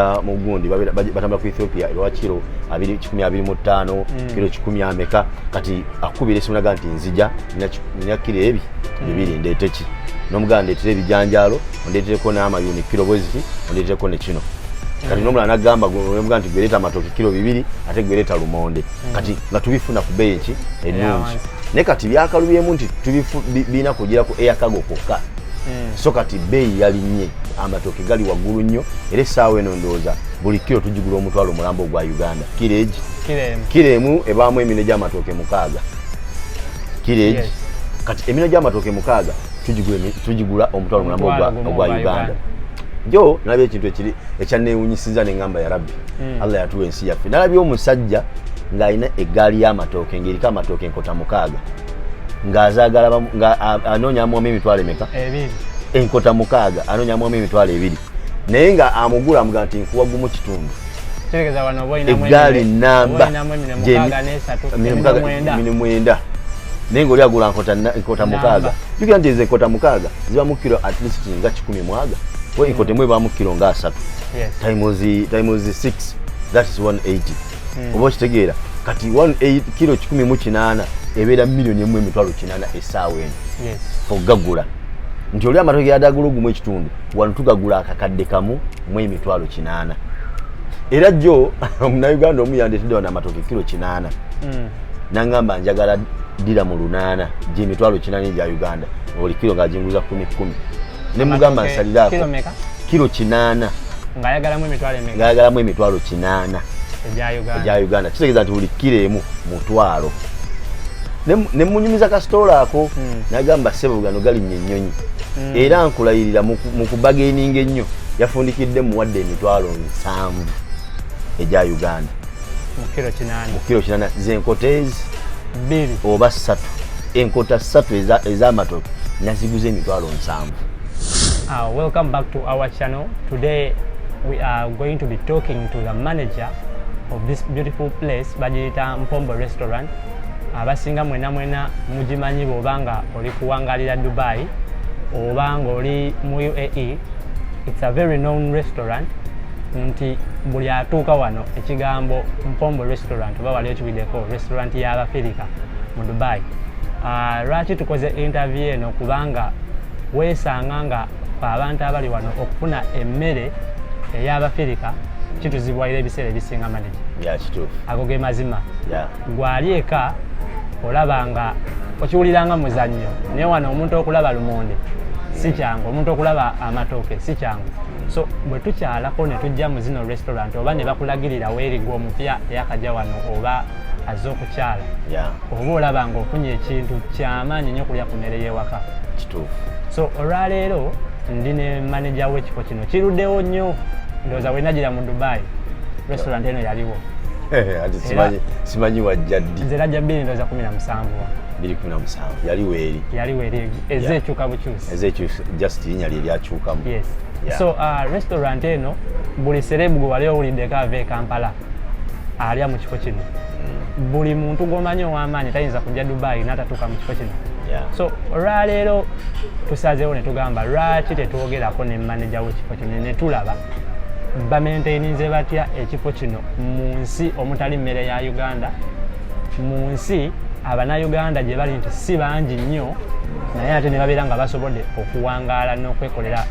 ah, mu gundi batambula ku ethiopia ebawa kiro kikumi abiri mu ttaano mm. kiro kikumi ameka kati akukubira esimu naga nti nzija nina kiro ebi mm. bibiri ndeeteki nomugala ndeetere ebijanjaalo ondeetereko n'amayuni kiro bweziti ondeetereko ne kino kati nomulala nagamba omuga nti gwereta amatoke kiro bibiri ate gwereta lumonde mm. kati nga tubifuna ku beeyi ki ennungi naye kati byakalubyemu nti birina kugira ku eyakago kwokka eh. so kati bbeeyi yalinnye amatooke gali waggulu nnyo era essaawa eno ndowooza buli kiro tugigula omutwalo omulambo ogwa uganda kiro egi kiro emu ebaamu emino gy'amatooke mukaaga kiro egi kati emino gy'amatooke mukaaga tugigula omutwalo omulambo ogwa uganda jo nalabye ekintu ekiri ekyanneewunyisiza ne ngamba ya rabbi hmm. allah yatuwa ensi yaffe nalabye omusajja ng'alina eggaali y'amatooke ng'eriko amatooke enkota mukaaga ng'azaagala bamu- nga a- anoonya amuwamu emitwalo emeka ebiri enkota mukaaga anoonya amuwamu emitwalo ebiri naye nga amugula amuga nti nkuwa gumu kitundu tegeza wano oba olinamu eggaali emine- oba namba olinamu emine gy'emi- mukaaga n'esatu emine emine mukaaga- mwenda emine mwenda naye ngaoli agula nkota na- nkota Namba. mukaaga jukira nti ezo enkota mukaaga zibamu kiro at least nga kikumi mwaga kuba enkota emu ebamu kiro nga asatu Yes. times times 6 that is 180 hmm. oba okitegeera kati kiro kikumi mu kinaana ebeera miliyoni emu emitwalo kinaana esaawa eno ogagula nti oli amatoke yadagula ogumu ekitundu wano tugagula akakadde kamu mu emitwalo kinaana era jjo omunauganda omu yandetedde wano amatoke kiro kinaana hmm. nangamba njagala dira mu lunaana gyemitwalo kinaana egya uganda buli kiro nga jinguza kumi kumi ne mugamba nsaliraako kilo meka kilo kinaana ng'ayagalamu emitwalo emeka ng'ayagalamu emitwalo kinaana egya uganda kitegeeza nti buli kilo emu mutwalo ne munyumiza kasitoola ako hmm. nagamba sebo gano galinnya ennyonyi hmm. era nkulayirira mu kubageninga ennyo yafundikidde muwadde emitwalo nsanvu egya uganda mu kilo kinana zenkoteezi bbiri oba ssatu enkota ssatu ez'amatooke naziguza emitwalo nsanvu Uh, welcome back to our channel. Today we are going to be talking to the manager of this beautiful place, Bajita Mpombo Restaurant. Abasinga mwena mwena mujimanyi bobanga oli kuwangalira Dubai obanga oli mu UAE. It's a very known restaurant. Nti buli atuuka wano ekigambo Mpombo Restaurant oba waliyo Bideko restaurant ya Abafirika mu Dubai. Uh, lwaki tukoze interview eno kubanga weesanga nga abantu abali wano okufuna emmere ey'Abafirika kituzibwalira ebiseera ebisinga manage. Yeah, kituufu. Ago ge mazima. Yeah. Gwali eka olaba nga okiwulira nga muzannyo naye wano omuntu okulaba lumonde si kyangu omuntu okulaba amatooke si kyangu so bwe tukyalako ne tujja mu zino restaurant oba ne bakulagirira weerigwa omupya eyakajja wano oba azze okukyala oba olaba nga ofunye ekintu kyamaanyi nyo okulya ku mmere y'ewaka kituufu so olwaleero ndi ne maneja w'ekifo kino kiruddewo nnyo ndowooza wenagira mu dubai restaurant eno yaliwo eh, simanyi wajja ddi nze najja bbiri ndowooza kumi na musanvu bbiri kumi na musanvu yaliwo eri yaliwo eri ezze ekyuka bukyusi ezekyo just linya lye lyakyukamu yes. yeah. so uh, restaurant eno buli serebu gwe wali owuliddeko ava e kampala alya mu kifo kino mm. buli muntu gwomanyi owamaanyi tayinza kujja dubayi natatuuka mu kifo kino yeah. so olwaleero tusazeewo ne tugamba lwaki tetwogerako ne maneja wekifo kino netulaba bamentayininze batya ekifo kino mu nsi omutali mmere ya uganda mu nsi abanauganda gye bali nti si bangi nnyo naye ate ne babeera nga basobodde okuwangaala n'okwekolera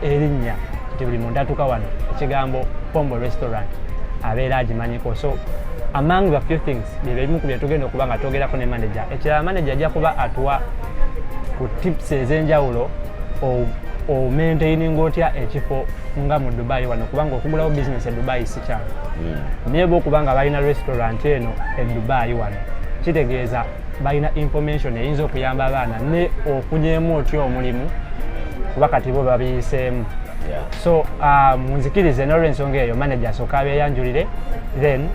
erinnya nti buli muntu atuuka wano ekigambo pombo restaurant abeera agimanyiko so among the few things byebimu ku byetugenda okuba nga twogerako ne manager ekirala manager ajja kuba atuwa ku tips ez'enjawulo omaintaininga otya ekifo nga mu dubai wano kubanga okugulawo bizinesi e dubai sikyalo hmm. naye bwokubanga balina restaurant eno e dubai wano kitegeeza balina information eyinza okuyamba abaana ne okunyemu otya omulimu kuba kati bo babiyiseemu so uh, munzikirize nolwensonga eyo manager asooka abeyanjulire then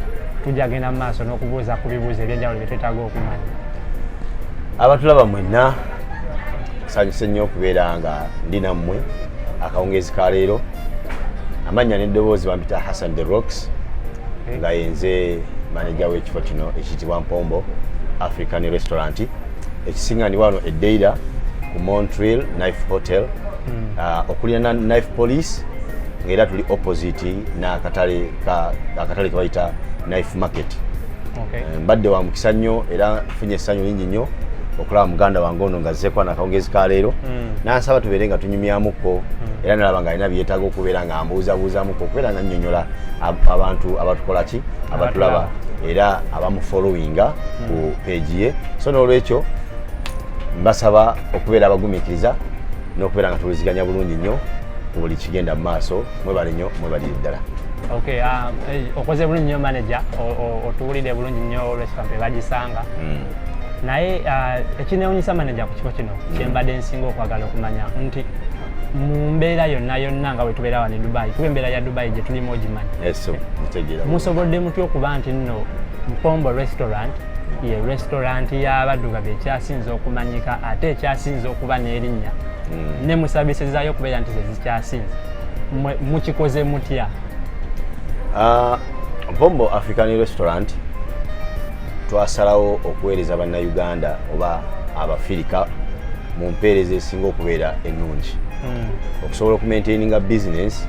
tujja genda mu maaso n'okubuuza ku bibuuzo ebyenjawulo byetwetaaga okumanya abatulaba mwenna nsanyuse nnyo okubeera nga ndi nammwe akawungeezi ka leero amannya n'eddoboozi bampita hassan the rocks nga yenze maneja w'ekifo kino ekiyitibwa mpombo african restaurant ekisinganibwa wano edeira ku montreal knife hotel hmm. ah, okulirana knife police ngaera tuli opposite n'akatale ke bayita knife market okay. Eh, mbadde wa mukisa nnyo era funye essanyu lingi nnyo okulaba muganda wange ono nga zzeekwana akawungezi ka leero hmm. nansaba tubeere nga tunyumyamuko hmm. era nalaba nga alina byetaaga okubeera nga mbuuzabuuzamuko okubeera nga nnyonnyola abantu abatukola ki abatulaba era abamufollowinga hmm. ku peegi ye so n'olwekyo mbasaba okubeera abagumikiriza n'okubeera nga tuwuliziganya bulungi nnyo ku buli kigenda mu maaso mwebale nyo mwebalire ddala okay um, eh, okoze bulungi nyo manager otuwulidde bulungi nyo restaurant ebagisanga mm. naye uh, ekinewunyisa manager ku kifo kino mm. kyembadde nsinga okwagala okumanya nti mu mbeera yonna yonna nga wetubeera wano e dubai kuba embeera ya dubai gyetulimu ogimanyi musobodde mutya okuba nti nno mpombo restaurant ye restaurant y'abaddugavu ekyasinze okumanyika ate ekyasinze okuba n'erinnya mm. ne musabise zayo kubera nti zezikyasinze mukikoze mutya uh, bombo african restaurant twasalawo okuweereza bannayuganda oba abafirika mu mpeereza esinga okubeera ennungi hmm. okusobola okumaintaininga bizinesi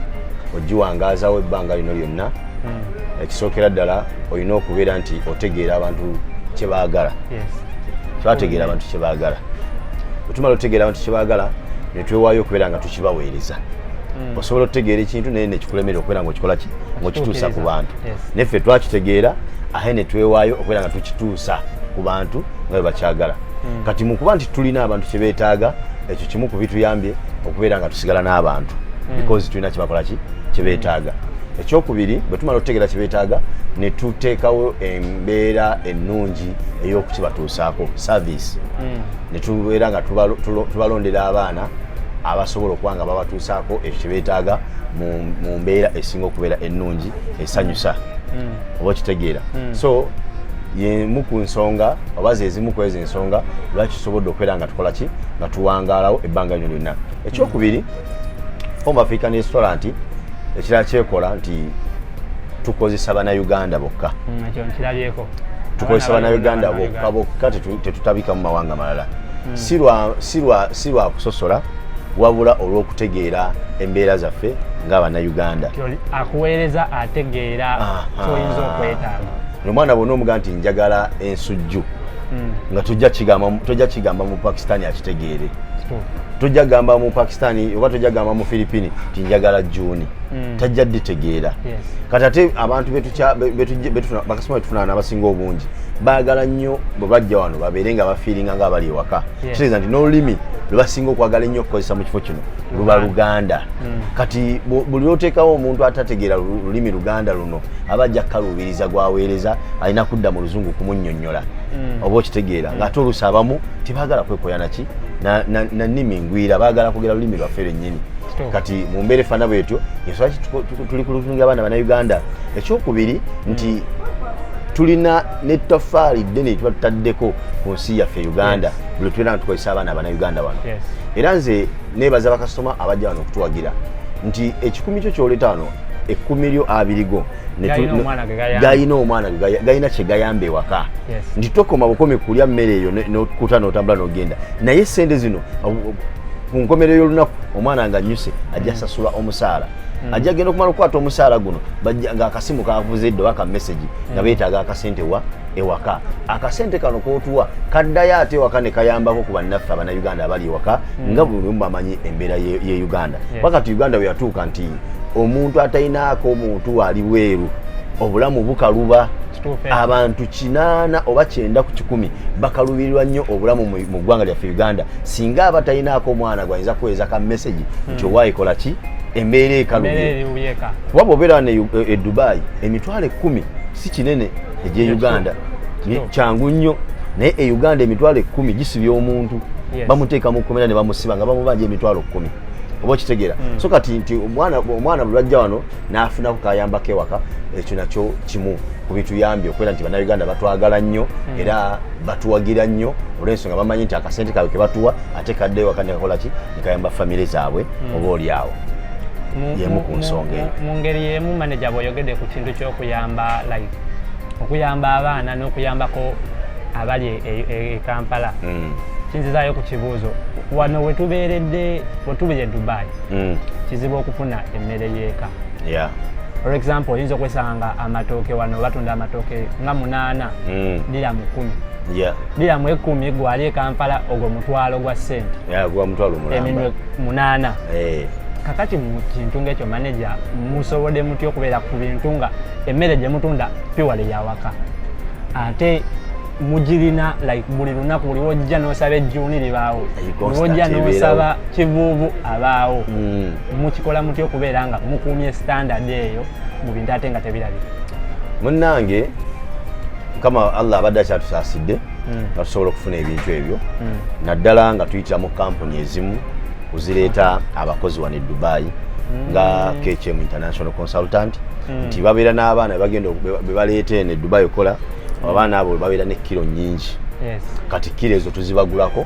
ogiwangaazawo ebbanga lino lyonna hmm. ekisookera ddala olina okubeera nti otegeera abantu kyebaagala twategeera abantu kyebaagala otumala otegeera abantu kyebaagala netwewaayo okubeera nga tukibaweereza hmm. osobola okutegeera ekintu naye nekikulemera okubeera nga okikola ki ngaokituusa ku bantu neffe twakitegeera ahe netwewaayo okubeera nga tukituusa ku bantu nga bebakyagala hmm. kati mukuba nti tulina abantu kyebetaaga ekyo kimu ku bituyambye okubeera nga tusigala n'abantu because tulina kyebakola ki kyebetaaga ekyokubiri bwe tumala okutegeera kye beetaaga ne tuteekawo embeera ennungi ey'okukibatuusaako service hmm. ne tubeera nga tubalondera abaana abasobola okuba nga babatuusaako ekyo kye beetaaga mu mbeera esinga okubeera ennungi esanyusa hmm. oba okitegeera hmm. so yemu ku nsonga oba zezimu ku ezo ensonga lwaki tusobodde okubeera nga tukola ki nga tuwangaalawo ebbanga lino lyonna ekyokubiri Home African Restaurant ekirala kyekola nti tukozesa banauganda bokka mm, tukozesa banauganda bokka bokka tetutabika mu mawanga malala mm. si lwa kusosola wabula olw'okutegeera embeera zaffe nga banauganda akuweereza ategeera kyoyinza okwetaaga omwana bwona omuga nti njagala ensujju hmm. nga tojja kigamba tojja kigamba mu pakistani akitegeere tojja gamba mu pakistani oba tojja gamba mu philippine ti njagala juni hmm. tajja ditegeera kati ate abantu bakasoma betufunana nabasinga obungi baagala nnyo bwe bajja wano babeere nga bafiiringa nga abali ewaka kitegeeza nti n'olulimi lwebasinga okwagala ennyo okukozesa mu kifo kino luba luganda hmm. kati buli lwoteekawo omuntu atategeera lulimi luganda luno aba ajja kukaluubiriza gwaweereza alina kudda mu luzungu kumunyonyo nyola mm. oba okitegeera mm. ng'ate oluusi abamu tebagala kwekoya naki nanimi ngwira bagala kugera lulimi lwaffe lwennyini kati mu mbeera efaana bwetyo yensonga ki tuli kulutunga abaana banauganda ekyokubiri mm. nti tulina netafaali ddene etuba tutaddeko ku nsi yaffe uganda buli tubeera nga tukozesa abaana abanauganda wano era nze nebaza bakasitoma abajja wano okutuwagira nti ekikumi kyo kyoleeta wano ekkumi lyo abiri go galina omwana galina kyegayamba ewaka nti tokoma bukomi kulya mmere eyo nokuta notambula nogenda naye sente zino ku nkomerero y'olunaku omwana nga nyuse ajja mm. sasula omusaala mm. ajja genda okumala okukwata omusaala guno ng'akasimu kavuze edda oba ka mesegi nga mm. beetaaga akasente wa ewaka akasente kano kotuwa kaddayo ate ewaka ne kayambako ku bannaffe abanauganda abali ewaka hmm. nga buli lumu bamanyi embeera ye uganda kuba kati uganda weyatuuka nti omuntu atalinaako omuntu ali bweru obulamu bukaluba abantu kinaana oba kyenda ku kikumi bakalubirirwa nnyo obulamu mu ggwanga lyaffe uganda singa aba talinaako omwana gwayinza kuweeza ka mesegi hmm. nti owaayikola ki embeera ekalubye kuba bwobeera e, e dubai emitwalo ekkumi si kinene egye uganda kyangu nnyo naye e uganda emitwalo ekkumi gisibya omuntu bamuteeka mu kkomera ne bamusiba nga bamubanja emitwalo kkumi oba okitegeera hmm. so kati nti omwana bulwajja wano n'afunako kayambako ewaka ekyo nakyo kimu ku bituyambye okubeera nti bannayuganda batwagala nnyo hmm. era batuwagira nnyo olw'ensonga bamanyi nti akasente kaabwe ke batuwa ate kadde ewaka nekakola ki gayamba famire zaabwe hmm. oba oli awo yemu ku nsonga eyo mu ngeri yemu maneja bweyogedde ku kintu ky'okuyamba like okuyamba abaana n'okuyambako abali e, e, e, e kampala hmm. kinzizayo ku kibuuzo wano wetubeeredde wetubire dubai hmm. kizibu okufuna emmere y'eka for example oyinza okwesanga amatooke wano batunda amatooke nga munaana dira mu kumi yeah. bila mu ekumi gwali ekampala ogwo mutwalo gwa sente yeah, gwa mutwalo eminwe munana hey. Eh. kakati mu kintu ngaekyo manaja musobode muty okubeera ku bintu nga emmere gye mutunda piwale yawaka ate mugirina like buli lunaku buli wojja nosaba ejjuuni libaawo wojja nosaba kivuuvu abaawo hmm. mukikola muty okubeera nga mukuumye standard eyo mu bintu ate nga tebirabika munnange mukama allah abadde akyatusaasidde hmm. nga tusobola okufuna ebintu ebyo hmm. naddala nga tuyitira mu kampuni ezimu kuzireeta abakozi wano e dubayi hmm. nga kcm international consultant nti babeera n'abaana bagenda bebaleeta eno e dubayi okukola abaana abo babeera ne kiro nyingi kati kiro ezo tuzibagulako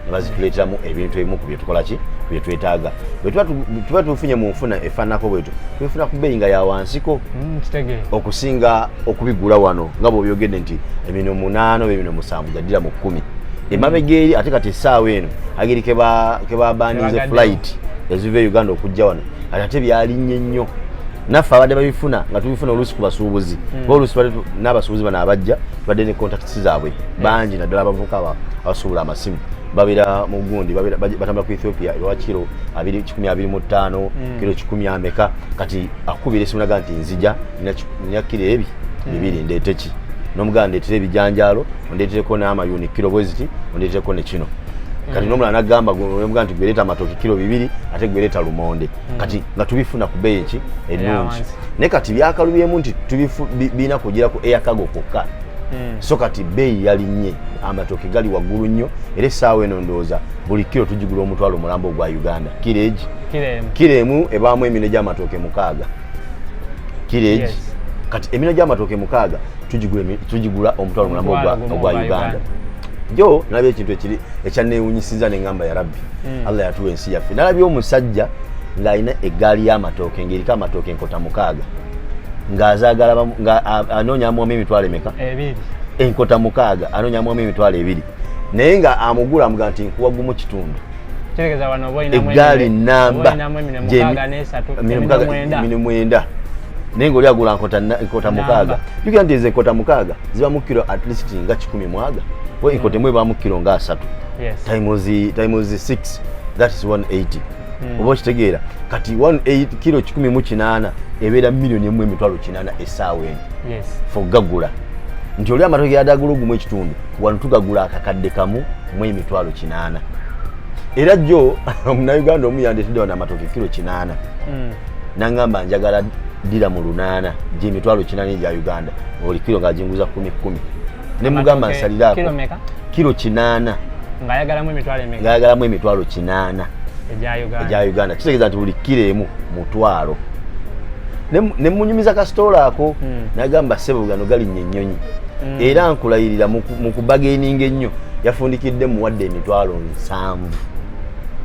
nebazituleteramu ebintu ebimu ku byetukola ki byetwetaaga bwetuba tufunye mu nfuna efaananako bwetyo twefuna ku bbeeyi nga yawansiko mm, okusinga okubigula wano nga bwobyogedde nti emino munaana oba emino musanvu jaddira mu kkumi mm. emabega eri ate kati essaawa eno ageri kebabaninze flight eziva e uganda okujja wano kati ate byalinnye nnyo naffe abadde babifuna nga tubifuna oluusi ku basuubuzi hmm. oba oluusi bade n'abasuubuzi bano abajja tubadde ne contacts zaabwe hmm. bangi naddala abavuka abasuubula amasimu babeera mu gundi batambula ku ethiopia ewa kiro kikumi abiri mu ttaano hmm. kiro kikumi ameka kati akubira esimu naga nti nzija nakira ebi hmm. bibiri ndeeteki nomuganda ndeetera ebijanjaalo ondeetereko n'amayuni kiro bweziti ondeetereko nekino hmm. kati nomulala nagamba omuga nti gwereeta amatooke kiro bibiri ate gwereeta lumonde hmm. kati nga tubifuna ku bbeeyi ki ennungi naye kati byakalubyemu nti birina kugira ku eyakago kwokka Hmm. so kati bbeeyi yalinnye amatooke gali waggulu nnyo era essaawa eno ndowooza buli kiro tugigula omutwalo omulambo ogwa uganda kiregi kilo emu ebaamu emino gyamatooke mukaaga kilo egi kati emino gyamatooke mukaaga tugigula omutwalo mulamu ogwa uganda jo nalaba ekintu ekiri ekyanneewunyisiza ne ŋŋamba ya rabbi hmm. allah yatuwa ensi yaffe nalabye omusajja ng'alina eggaali y'amatooke ng'eriko amatooke enkota mukaaga ng'azaagala nga anoonya amuwamu emitwalo emeka enkota mukaaga anoonya amuwamu emitwalo ebiri naye nga amugula amuga nti nkuwa gumu kitundu eggaali namba mine mwenda naye ngaoli agula nkota mukaaga jukira nti ezo enkota mukaaga ziba mukiro at least nga kikumi mwaga we enkota emu ebamu kiro nga asatu times 6 that is 180 hmm. oba okitegeera kati 18 kiro kikumi mu kinaana ebeera miliyoni emu emitwalo kinaana esaawa eno for gagula nti oli amatoke yadagula ogumu ekitundu wano tugagula akakadde kamu mu emitwalo kinaana era jjo omunauganda omu yandetedde wano amatooke kiro kinaana hmm. nangamba njagala dira mu lunaana gyemitwalo kinaana egya uganda oli kiro ngaajinguza kumi kumi ne mugamba nsaliraako kiro kinaana ng'ayagalamu emitwalo kinaana egya uganda kitegeeza nti buli kiro emu twalo ne munyumiza kasitoola ako hmm. nagamba sebo gano galinnya ennyonyi hmm. era nkulayirira mu kubagaininga ennyo yafundikidde muwadde emitwalo nsanvu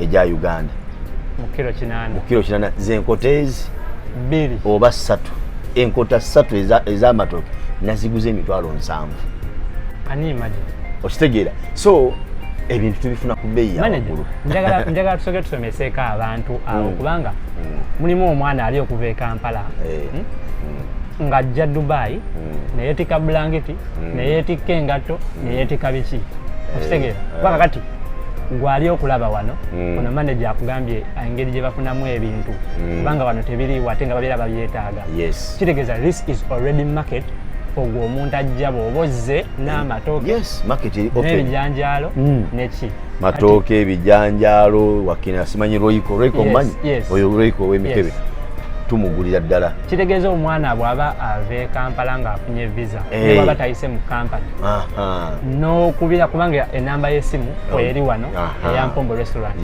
egya uganda mu kiro kinana zenkota ezi bbiri oba ssatu enkota ssatu ez'amatooke naziguza emitwalo nsanvu okitegeera so ebintu tubifuna ku bbeeyi yamagulu njagala tusooke tusoma seeka abantu awo mm. kubanga mm. mulimu omwana ali okuva e kampala eh. hmm? mm. ng'ajja dubayi neyeetika bulangiti neyeetikka engatto neyeetika biki eh. okitegeera eh. kubanga kati gwali okulaba wano ono maneja akugambye engeri gye bafunamu ebintu kubanga wano tebiriiwo ate nga babeera babyetaaga kitegeeza this is already market ogwo omuntu ajja bw'oba ozze n'amatooke n'ebijanjaalo neki matooke ebijanjaalo wakina simanyi roiko roiko manyi oyo roiko owemikebe tumugulira ddala kitegeeza omwana bwaba ava e kampala ngaafunye visa eh. nebwaba tayise mu kampani nokubira kubanga enamba yesimu oh. eri wano eyampombo restaurant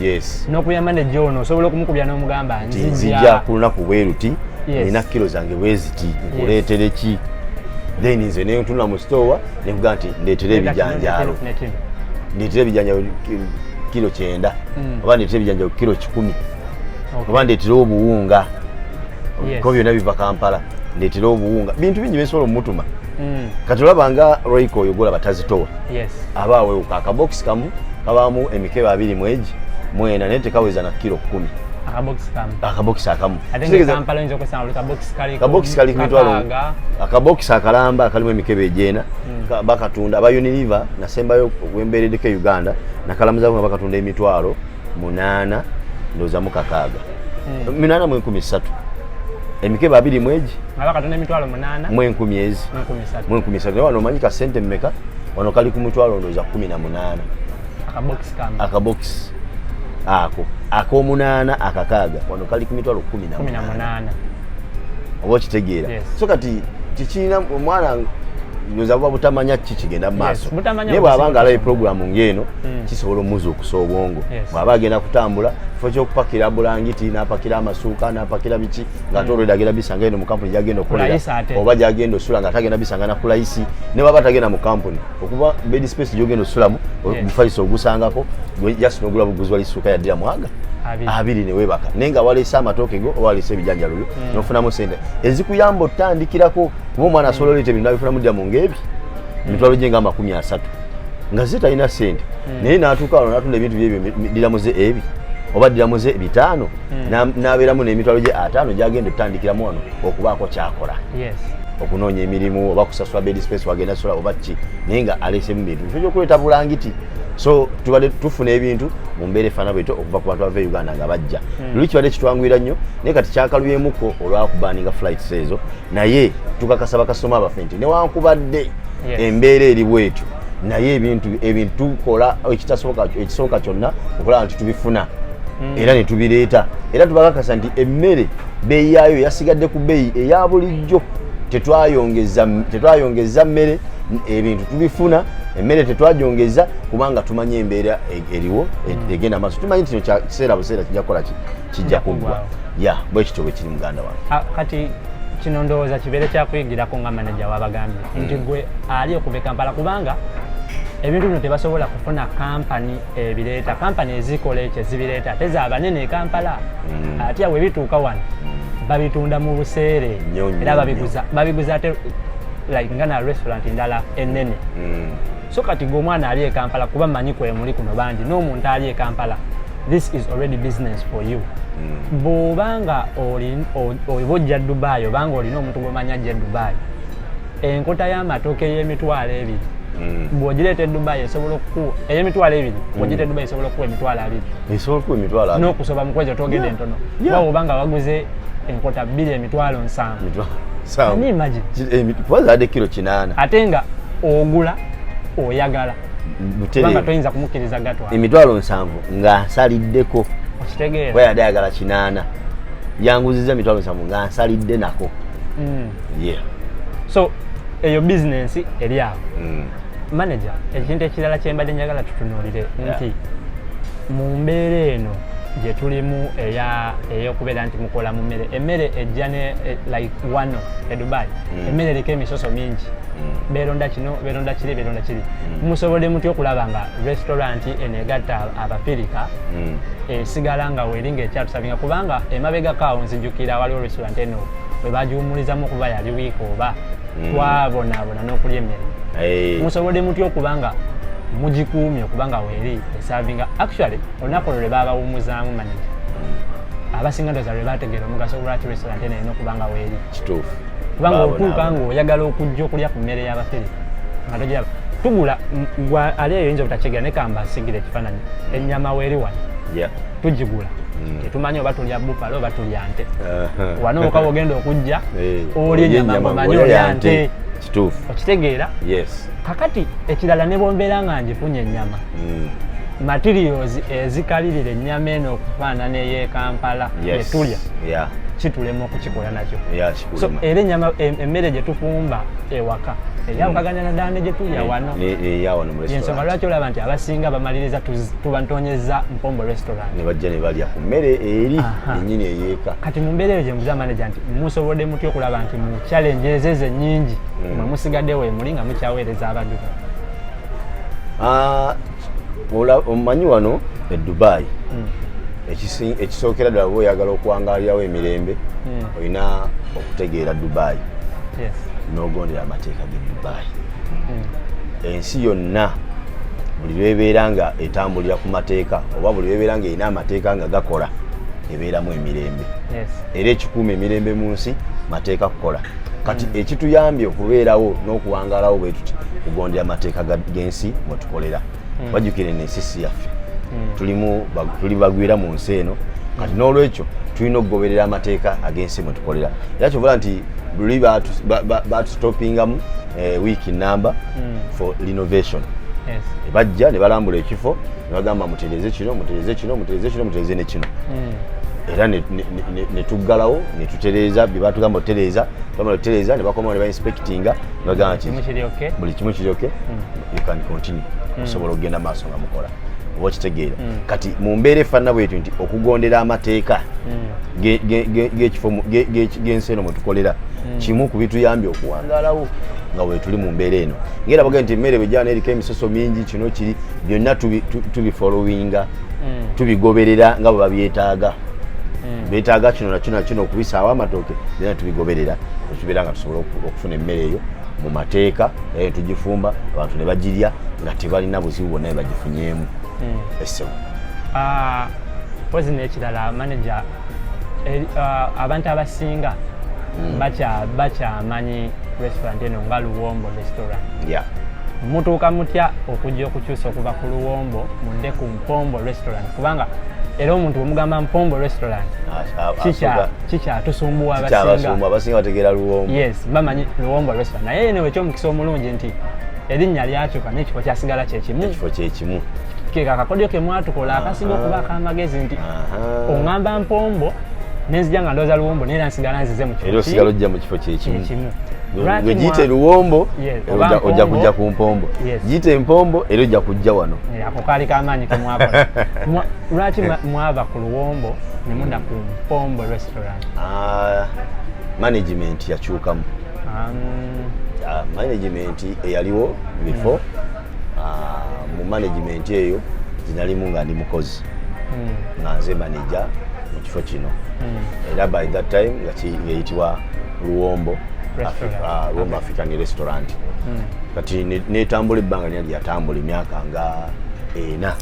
nokubira maneja ono osobola okumukubira nomugamba nzija kulunaku bweruti nina kilo zange bweziti nkuleetereki then nze nentuna mu stowa nekuga nti ndetera ebijanjaalo ndetera ebijanjaalo kiro kyenda mm. oba ndetera ebijanjaalo kiro kikumi oba ndetera obuwunga ko byona biva kampala ndetera obuwunga bintu bingi byensobola omumutuma mm. kati olaba nga royiko oyo golaba tazitowa aba awewuka akabokisi kamu kabamu emikebe abiri mwegi mwena naye tekaweza na kiro kumi akabokisi akamu kabokisi kali kumitwalo akabokisi akalamba akalimu emikebe egyena hmm. bakatunda aba uniliver nasembayo wembeeredeko e uganda nakalamuzako nga bakatunda emitwalo munaana ndowooza mukakaaga hmm. munaana mu enkumi ssatu emikebe abiri mwegi mu enkumi ezi mu enkumi ssatu naye wano omanyi kasente mumeka wano kali ku mitwalo ndowooza kumi na munaana akabokisi ako akomunaana akakaaga wano kali ku mitwalo kumi namunaana oba okitegeera so kati kikirina omwana nyoza buba butamanya ki kigenda mu maaso naye bw'aba nga alabe pulogulaamu ng'eno hmm. kisobola omuzuukusa obwongo bw'aba agenda kutambula kifo ky'okupakira bulangiti n'apakira amasuuka n'apakira biki ng'ate hmm. olweda agenda bisanga eno mu kampuni gyagenda okukolera oba gyagenda osula ng'ate agenda bisanga na kulayisi ne baba tagenda mu kampuni okuba bed space gyogenda osulamu omufaliso ogusangako just nogula buguzi wali suuka yaddira mwaga abiri newebaka naye nga waleese amatooke go oba waleese ebijanjalo byo hmm. nofunamu sente ezikuyamba otandikirako kuba omwana asobola oleeta ebintu abifunamu ddira mu ngaebi hmm. mitwalo gye nga amakumi asatu nga ze talina sente hmm. naye natuuka wano natunda ebintu byebyo ddiramuze ebi oba ddiramuze bitaano hmm. n'abeeramu n'emitwalo gye ataano gyagenda okutandikiramu wano okubaako kyakola okunoonya emirimu oba kusasula bed space wagenda sola oba ki naye nga aleesemu bintu kyo kyokuleeta bulangiti so tubadde tufuna ebintu mu mbeera efaana bwetyo okuva ku bantu bava e uganda nga bajja hmm. luli kibadde kitwanguyira nnyo naye kati kyakaluyemuko olwakubaninga flights ezo naye tukakasa bakasitoma abaffe nti newankubadde embeera eri bwetyo naye ebintu ebintu tukola ekitasoboka ekisoboka kyonna okulaba nti tubifuna hmm. era ne tubireeta era tubakakasa nti emmere beeyi yaayo yasigadde ku beeyi eya bulijjo tetwayongeza mmere ebintu tubifuna emmere tetwagyongeza kubanga tumanyi embeera e-, eriwo e-, hmm. egenda maaso tumanyi nti kino kiseera buseera kijja kukola ki kijja kuggwa ya bwe kityo bwe kiri muganda wange ah, kati kino ndowooza kibeere kyakuyigirako nga manaja wabagambye mm. nti gwe ali okuva e kampala kubanga ebintu bino tebasobola kufuna kampani ebireeta kampani ezikola ekyo ezibireeta ate zabanene ekampala mm. atya bwe bituuka wano mm. babitunda mu buseere era babiguza ate like nga na restaurant ndala enene mm. so kati gwe omwana ali ekampala kuba manyi kwemuli kuno bangi n'omuntu ali ekampala this is already business for you mm. bwoba nga oba ojja dubai oba nga olina omuntu gwomanyi ajja e dubai enkota y'amatooke y'emitwalo ebiri mm. bwogireeta e dubai esobola okukuwa ey'emitwalo ebiri mm. bwogireeta e dubai esobola okukuwa emitwalo abiri n'okusoba mu kwezo twogedde entono oba oba nga waguze enkota bbiri emitwalo nsanvu imagine eh, kilo kinaana ate nga ogula oyagala toyinza kumukiriza gatwa emitwalo nsanvu nga nsaliddeko okitegeera weyade ayagala kinaana yanguziza emitwalo nsanvu nga nsalidde nako mm. yeah. so eyo bizinensi eri awo mm. manager ekintu ekirala kyembadde njagala tutunuulire nti mu mbeera eno gye tulimu eyokubeera nti mukola mu mmere emmere ejja ne e, like wano e dubai mm. emmere eriko emisoso mingi mm. beronda kino beronda kiri beronda kiri mm. musobodde mutya okulaba nga restaurant eno egatta abafirika esigala nga weri nga ekyatusabinga kubanga emabegako awo nzijukira waliwo restaurant eno bwe bagiwumulizamu okuba yali wiiki oba twabonaabona n'okulya emmere musobodde mutya okuba nga mugikuumye okuba nga weeri esavinga actually olunaku olwo lwe baabawummuzaamu manija abasinga ndoza lwe baategeera omugaso lwaki restaurant eno erina okuba nga weeri kituufu kubanga otuuka ng'oyagala okujja okulya ku mmere y'abafere nga togiraba tugula gwe ali eyo yinza obutakigira naye kamba asigira ekifaananyi ennyama weeri wano tugigula Mm. tetumanyi oba tulya bufalo oba tulya nte wano oka ogenda okujja eh, oli enyama mumanyi olya nte okitegeera kakati ekirala ne bwombeera nga njifunye enyama hmm. materials ezikalirira ennyama eno okufaanana ey'ekampala etulya kitulema okukikola nakyo so era enyama emmere gye tufumba ewaka eyawukagana na ddaame gye tulya wano yensonga lwaki olaba nti abasinga bamaliriza tubantonyeza mpombo restaurant ne bajja ne balya ku mmere eri ennyini eyeeka kati mu mbeera eyo gye mbuza maneja nti musobodde mutya okulaba nti mu challenge ezezo ennyingi mm. mwe musigaddewo emuli nga mukyaweereza abaduka Ah, omanyi wano e dubai hmm. ekisookera ddala oba oyagala okuwangaalirawo emirembe hmm. olina okutegeera dubai n'ogondera amateeka ge dubai hmm. ensi yonna buli lwebeera nga etambulira ku mateeka oba buli lwebeera nga erina amateeka nga gakola ebeeramu emirembe era ekikuuma emirembe mu nsi mateeka kukola kati mm. ekituyambye okubeerawo n'okuwangalawo bwe tuti kugondera amateeka g'ensi mwe tukolera mm. bajjukire n'ensisi yaffe mm. tulimu tuli bagwira mu nsi eno kati n'olwekyo tulina okugoberera amateeka ag'ensi mwe tukolera era kyobola nti luli batustopingamu eh, wiiki namba for renovation bajja ne balambula ekifo ne bagamba mutereze kino mutereze kino mutereze kino mutereze ne kino era netuggalawo netutereeza byebatugamba otereeza bamala otereeza nebakomawo nebainspectinga nebagamba nti buli kimu kiryoke hmm. you can continue hmm. osobola okugenda maaso nga mukola oba okitegeera hmm. kati mu mbeera efaanana bwetyo nti okugondera amateeka gensi eno mwetukolera kimu ku bituyambye okuwangalawo nga wetuli mu mbeera eno ngaera bagee nti emmere bwegyana eriko emisoso mingi kino kiri byonna tubifolowinga mm. tubigoberera nga bwe babyetaaga mm. betaaga kino nakino nakino okubisaawo amatooke byona tubigoberera ekibeera nga tusobola okufuna emmere eyo mu mateeka era netugifumba abantu ne bagirya nga tebalina buzibu bwonna ne bagifunyeemu mm. essebo ah, pozi nekirala manaja Eh, ah, abantu abasinga hmm. bakyamanyi restaurant eno nga luwombo restaurant mutuuka mutya okujja okukyusa okuva ku luwombo mudde ku mpombo restaurant kubanga era omuntu wemugamba mpombo restaurant kikyatusumbuwa abasinga bategeera luwombo yes bamanyi luwombo restaurant naye eno ekyomukisa omulungi nti erinnya lyakyuka naye ekifo kyasigala kyekimu ekifo kyekimu keka akakodyo ke mwatukola akasinga okuba akamagezi nti oŋŋamba mpombo nenzija nga ndooza luwombo naye era nsigala nzize mu kifo osigala ojja mu kifo kyekimu gwe giyite luwombo ojja kujja ku mpombo giyite empombo era ojja kujja wano ako kaali kamaanyi kemwakola lwaki mwava ku luwombo ne mudda ku mpombo restaurant ah, management yakyukamu ah, management eyaliwo before hmm. ah, mu management eyo ginalimu nga ndi mukozi hmm. nga nze manaja mu kifo kino hmm. era by that time nga ngeyitibwa luwombo luwombo african restaurant kati netambula ebbanga lina lyatambula emyaka nga ena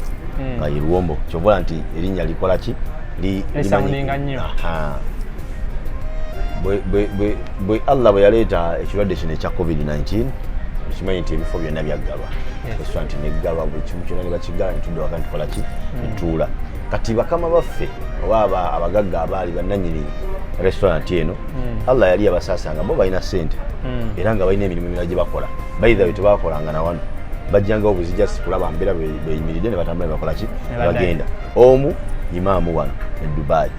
nga ye luwombo kyobola nti erinnya likola ki limanyi bwe allah bwe yaleeta ekirwadde kino ekya covid-19 okimanyi nti ebifo byonna byaggalwa eswa nti neggalwa buli kimu kyonna nebakiggala netudda waka nitukola ki hmm. netuula kati bakama baffe oba abagagga abaali bannanyini restaurant eno hmm. allah yali yabasasanga bo balina sente hmm. era nga balina emirimu emirala gye bakola baithawe tebakolanga na wano bajjangawo buzija sikulaba mbeera beyimiridde ne batambula ne bakola ki ne bagenda omu imaamu wano e dubai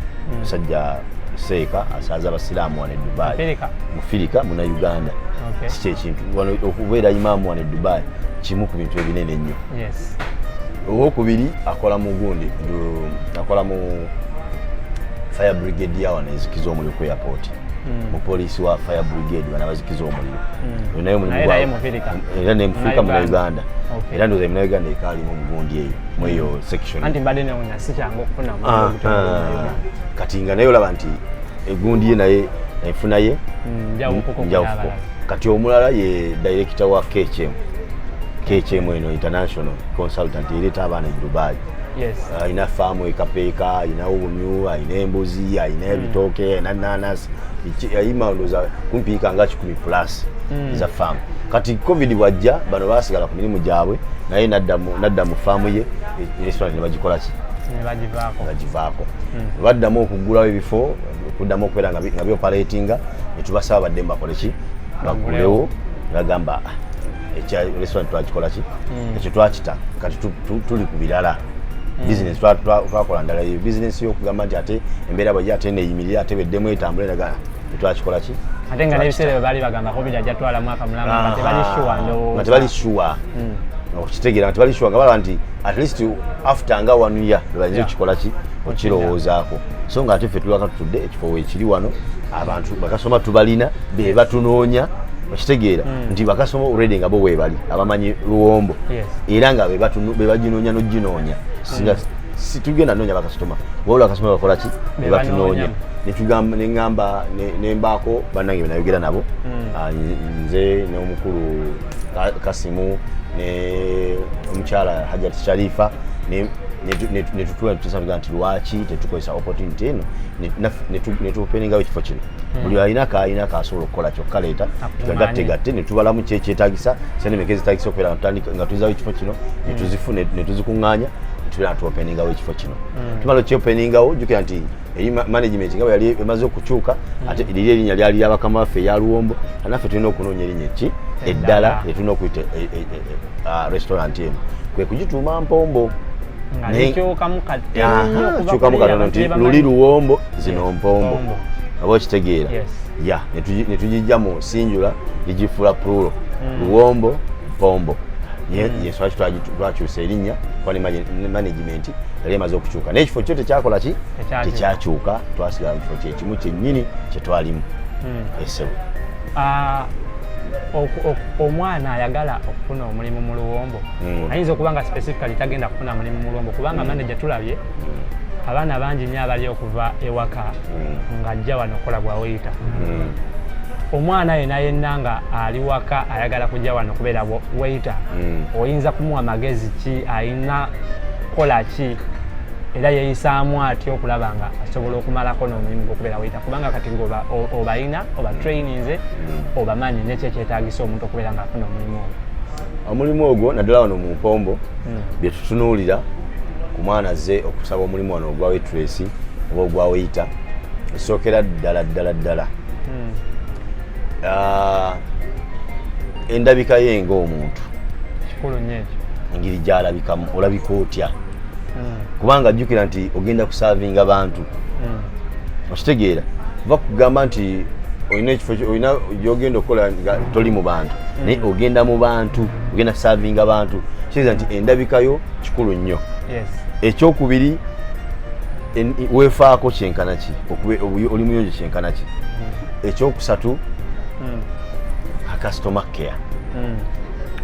musajja seeka asanze abasiraamu wano edubayi mufirika muna uganda kiki ekintu okubeera imaamu wano edubayi kimu ku bintu ebinene ennyo owokubiri akola mu gundi akola mu fire brigade yawano ezikiza omuliro ku airport hmm. mupoliisi wa fire brigade bana bazikiza omuliro hmm. naye mulimuera nemufirika muna uganda era ndoza emuna uganda ekaalimu mugundi eyo mweyo hmm. section kati nga naye olaba nti egundi ye naye enfuna ye mm, njawufuko kati omulala ye dayirekita wa kcm kcm eno international consultant ereeta abaana e dubai alina faamu ekapeeka alina obumyu alina embuzi alina mm. ebitooke alina nanasi yayima ndoza kumpiika nga kikumi plus mm. za faamu kati covid bwajja bano basigala ku mirimu gyabwe naye nadda mu faamu ye e, restaurant ne bagikolaki ne bagivaako hmm. baddamu okuggulawo ebifo okuddamu okubeera nga bioperatinga netubasaba badde mubakole ki bagulewo nagamba ah, ekya restaurant twakikola ki hmm. ekyo twakita kati tuli ku birala hmm. business twakola ndala eyo business yokugamba nti ate embeera bwaje ate neyimirire ate beddemu etambule naga tetwakikola ki ate nga nebiseera bwe baali bagambako biri ajja twala mwaka mulamba nga tebali shuwa nga tebali shuwa okukitegeera nga tebali shuwa nga balaba nti at least after nga one year lwebayinza yeah. okikola ki okirowoozaako so nga ate ffe tulwaka tutudde ekifo wekiri wano abantu bakasoma tubalina be batunoonya okitegeera mm. nti bakasoma olredi nga bo webali abamanyi luwombo yes. era nga bebaginoonya noginoonya singa mm. situgenda noonya bakasitoma wabula bakasitoma bakola ki bebatunoonya neŋamba nembaako banange benayogera nabo hmm. ah, nze n'omukulu kasimu ne omukyala hajat sharifa netutula tusaga nti lwaki tetukozesa opportunity eno netupeningawo ekifo kino hmm. buli alina kaalina kasobola okukola kyokka leeta tugagattegatte netubalamu kyekyetagisa sente meka ezitagisa okubeera nga tuzawo ekifo kino hmm. netuzifuna netuzikuŋŋaanya tubeera natuopeningawo ekifo kino hmm. tumala okyopeningawo jukira nti eri management nga yali emaze okukyuka hmm. ate liri erinnya lyali lya bakama baffe eya luwombo naffe tulina okunoonya erinnya ki eddala lyetulina okuyita e, e, e, ah, restaurant eno kwe kugituuma mpombo kyukamu katono nti luli luwombo zino mpombo aba okitegeera ya netugijja mu sinjula ligifuula prulo hmm. luwombo mpombo yenswaki hmm. twakyusa erinnya kuba ne management gavumenti yali emaze okukyuka naye ekifo kyo tekyakola ki tekyakyuka twasigala mu kifo kyekimu kyennyini kyetwalimu hmm. esebo ah, omwana ayagala okufuna omulimu mu luwombo hmm. ayinza okuba nga specifically tagenda kufuna mulimu mu luwombo kubanga hmm. manaja tulabye abaana bangi nnyo abali okuva ewaka ng'ajja wano okukola bwaweyita omwana yena yenna nga ali waka ayagala kujja wano kubeera weyita oyinza kumuwa magezi ki ayina kukola ki era yeyisaamu atya okulaba nga asobola okumalako n'omulimu gwokubeera weyita kubanga kati ngoba obalina oba traininze mm. obamanyi nekyo ekyetagisa omuntu okubeera nga afuna omulimu ogwo omulimu ogwo naddala wano mu mpombo mm. byetutunuulira ku mwana azze okusaba omulimu wano ogwa wetresi oba ogwa weyita esookera ddala ddala ddala mm. ah, endabika ye ngaomuntu kikulu nyo engeri gyalabikamu olabika otya hmm. kubanga jjukira nti ogenda kusavinga bantu hmm. okitegeera va kugamba nti olina ekifo olina gyogenda okukola nga toli mu bantu hmm. naye ogenda mu bantu ogenda kusavinga bantu kitegeeza nti endabikayo kikulu nnyo ekyokubiri wefaako kyenkana ki oli muyonjo kyenkana ki ekyokusatu akasitoma care mm.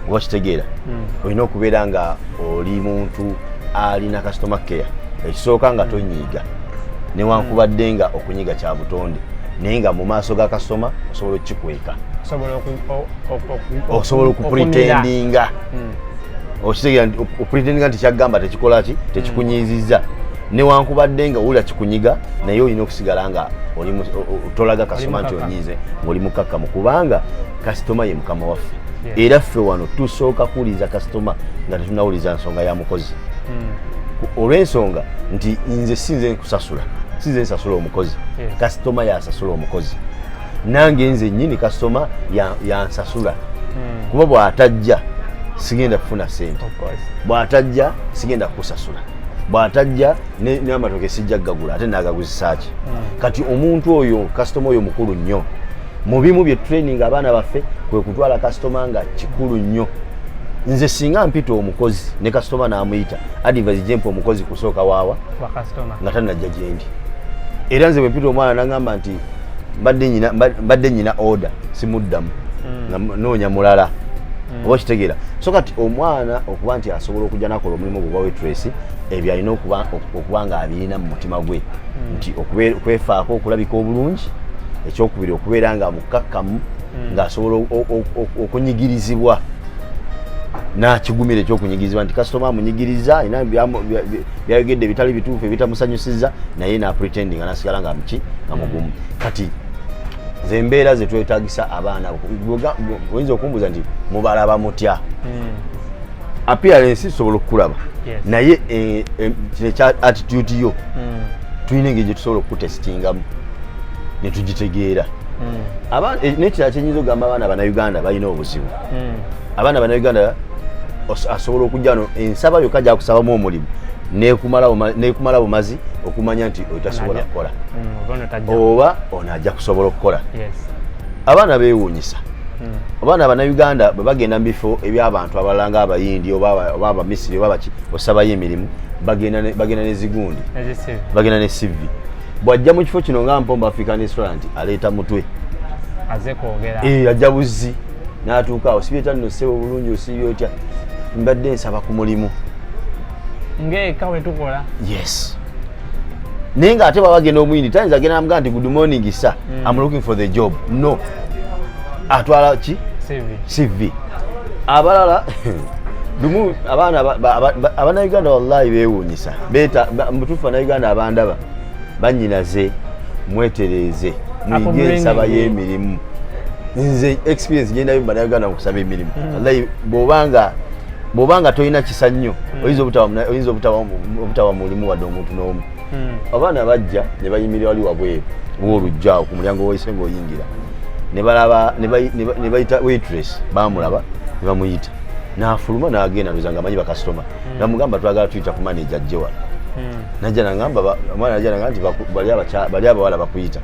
oba kitegeera mm. olina okubeera nga oli muntu alina customer care ekisooka nga mm. tonyiiga newankubadde nga okunyiga kya butonde naye nga mu maaso ga kasitoma osobola okukikweka osobola okupretendinga okitegeera nti opretendinga nti kyakugamba tekikola ki tekikunyiizizza newankubadde nga wulira kikunyiga naye olina okusigala nga tolaga kasoma nti onyiize ngaoli mukkakkamu kubanga kasitoma ye mukama waffe era ffe wano tusooka kuwuliriza kasitoma nga tetunawuliriza nsonga ya mukozi hmm. olw'ensonga nti nze sinze nkusasula sinze nsasula omukozi kasitoma yasasula omukozi nange nze nyini kasitoma yansasula hmm. kuba bw'atajja sigenda kufuna sente bw'atajja sigenda kukusasula bwatajja n'amatoke sijja kugagula ate nagaguzisaaki hmm. kati omuntu oyo kasitoma oyo mukulu nnyo mu bimu bye training abaana baffe kwe kutwala kasitoma nga kikulu nnyo nze singa mpita omukozi ne kasitoma n'amuyita advise jempa omukozi kusooka waawa nga tanajja gyendi era nze bwempita omwana nagamba nti mbadde nyina order simuddamu mm. noonya mulala mm. oba okitegeera so kati omwana okuba nti asobola okujja nakola omulimu gwe gwa wetresi ebyo alina okuba nga abirina mu mutima gwe hmm. nti okwefaako okulabika obulungi ekyokubiri okubeera nga mukkakkamu hmm. ng'asobola okunyigirizibwa nakigumira ekyokunyigirizibwa nti kasitoma amunyigiriza alina byayogedde ebitali bituufu ebitamusanyusiza naye napretendinga nasigala nga muki nga mugumu hmm. kati zembeera zetwetagisa abaana oyinza okumbuza nti mubalaba mutya appearance isobola okukulaba yes. naye eh, eh, kino eh, ekya attitude yo mm. tulina engeri gyetusobola okukutesitingamu netugitegeera mm. eh, nekirala kyenyinza okugamba abaana banauganda balina obuzibu mm. abaana banauganda asobola okujja no ensaba yokka gyakusabamu omulimu nekumala bumazi okumanya nti otasobola kukola mm, oba ono ajja kusobola okukola abaana bewuunyisa abaana banauganda bwe bagenda mu bifo ebyabantu abalala nga abayindi oba abamisiri oba baki osabayo emirimu bagenda nezigundi bagenda ne cv bwajja mu kifo kino nga mpomba african restaurant aleeta mutwe eh, ajja buzzi natuuka awo sibyeta nno sebo bulungi osiibye otya mbadde nsaba ku mulimu ngaeka wetukola yes naye nga ate baba genda omuyindi tayinza agenda namugaa nti good morning sa mm. am looking for the job no atwala ki cv abalala lumu abaana abanauganda wallahi bewuunyisa mutuufu banauganda abandaba banyinaze mwetereeze muyige ensaba y'emirimu nze experience gyendayo mu banauganda mukusaba emirimu mm. wallahi bwobanga bwoba nga tolina kisa nnyo hmm. oyinza oyinza obutawa mulimu wadde omuntu n'omu hmm. abaana bajja ne bayimirira wali wabweru wolujja ku mulyango woyise ngaoyingira nebalaba nebayita waitress bamulaba ne bamuyita nafuluma nagenda ndoza nga amanyi bakasitoma hmm. namugamba twagala tuyita ku maneja jjewa najja nagamba omwana najja nagamba nti bali abawala bakuyita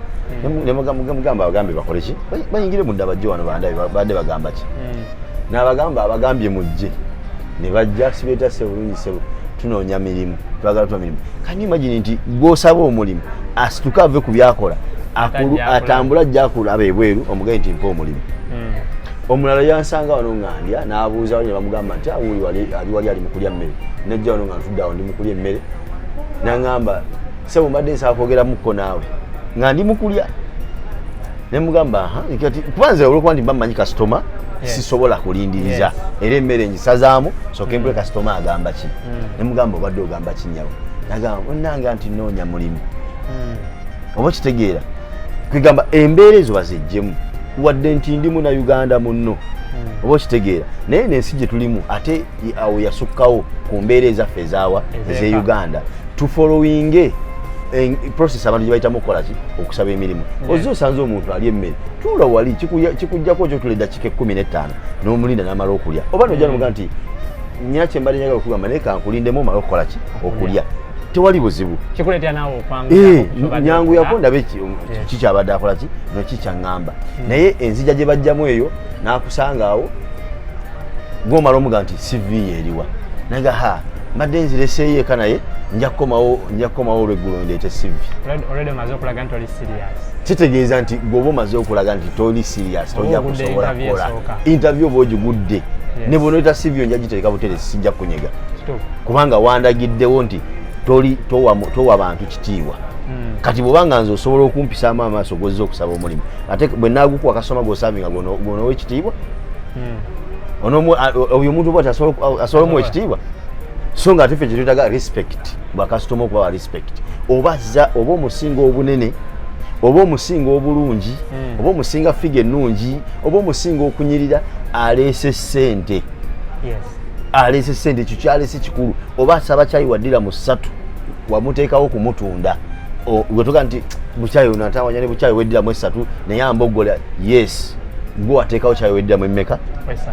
nemugamba bagambe bakoleki bayingire munda bajje wano bande bagamba ki nabagamba abagambye mujje nebajja sibeeta sebulungi sebo tunoonya mirimu twagala tuba mirimu kanyi imagine nti gwosaba omulimu asituke ave ku byakola atambule ajja akulaba ebweru omugaye nti mpa omulimu hmm. omulala yansanga wano ngandya nabuuza wali nebamugamba nti awuli ah, ali wali ali mukulya mmere najja wano nga ntuddeawo ndi mukulya emmere nangamba sebo mbadde nsaba kwogeramuko naawe nga ndi mukulya ne mugamba kati kuba nze olwokuba nti mba mmanyi kasitoma sisobola kulindiriza era emmere ngisazaamu soke mbule mm. kasitoma agamba ki mm. ne mugamba obadde ogamba kinyabo nagamba onanga nti noonya mulimu mm. oba okitegeera kwegamba embeera ezo bazejjemu wadde nti ndi muna uganda munno oba okitegeera naye nensi gye tulimu ate awo yasukkawo ku mbeera ezaffe ezaawa eze uganda tufolowinge process abantu gyebayitamu okukolaki okusaba emirimu ozze osanze omuntu ali emmere tuula wali kikujjako kyo tuleda kika ekkumi n'ettaano n'omulinda n'amala okulya oba noja nomuga nti nyina kyembadde njagala okugamba naye kankulindemu omala okukola ki okulya tewali buzibu eh, nyangu yako ndabe kikyabadde akola ki nokikyaŋŋamba hmm. naye enzija gye bajjamu eyo n'akusanga awo gwomala omuga nti cv yeriwa naga ha mbadde nzireseeyo eka naye nja kukomawo nja kukomawo olweggulo ndeete cv kitegeeza nti gweoba omaze okulaga nti toli sirias toja kusobola kukola interview oba ogigudde ne bwonoyita cv yo nja gitereka butere sijja kunyega kubanga wandagiddewo nti toli towa bantu kitiibwa hmm. kati bwobanga nze osobola okumpisaamu amaaso gwozza okusaba omulimu ate bwe nagukuwa kasoma gwosavinga gwonowa ekitiibwa hmm. oyo omuntu bwati asobola omuwa ekitiibwa so nga ate fe kyetwetaga respect bwakasitoma okubawa respect oba za oba omusinga obunene oba omusinga obulungi hmm. oba omusinga figa ennungi oba omusinga okunyirira aleese sente aleese sente ekyo kyaleese kikulu oba asaba kyayi waddira mu ssatu wamuteekawo okumutunda wetuga nti bukyayi onatawanya ne bukyayi weddiramu essatu naye ambogola yes gwe wateekawo kyayo weddiramu emmeka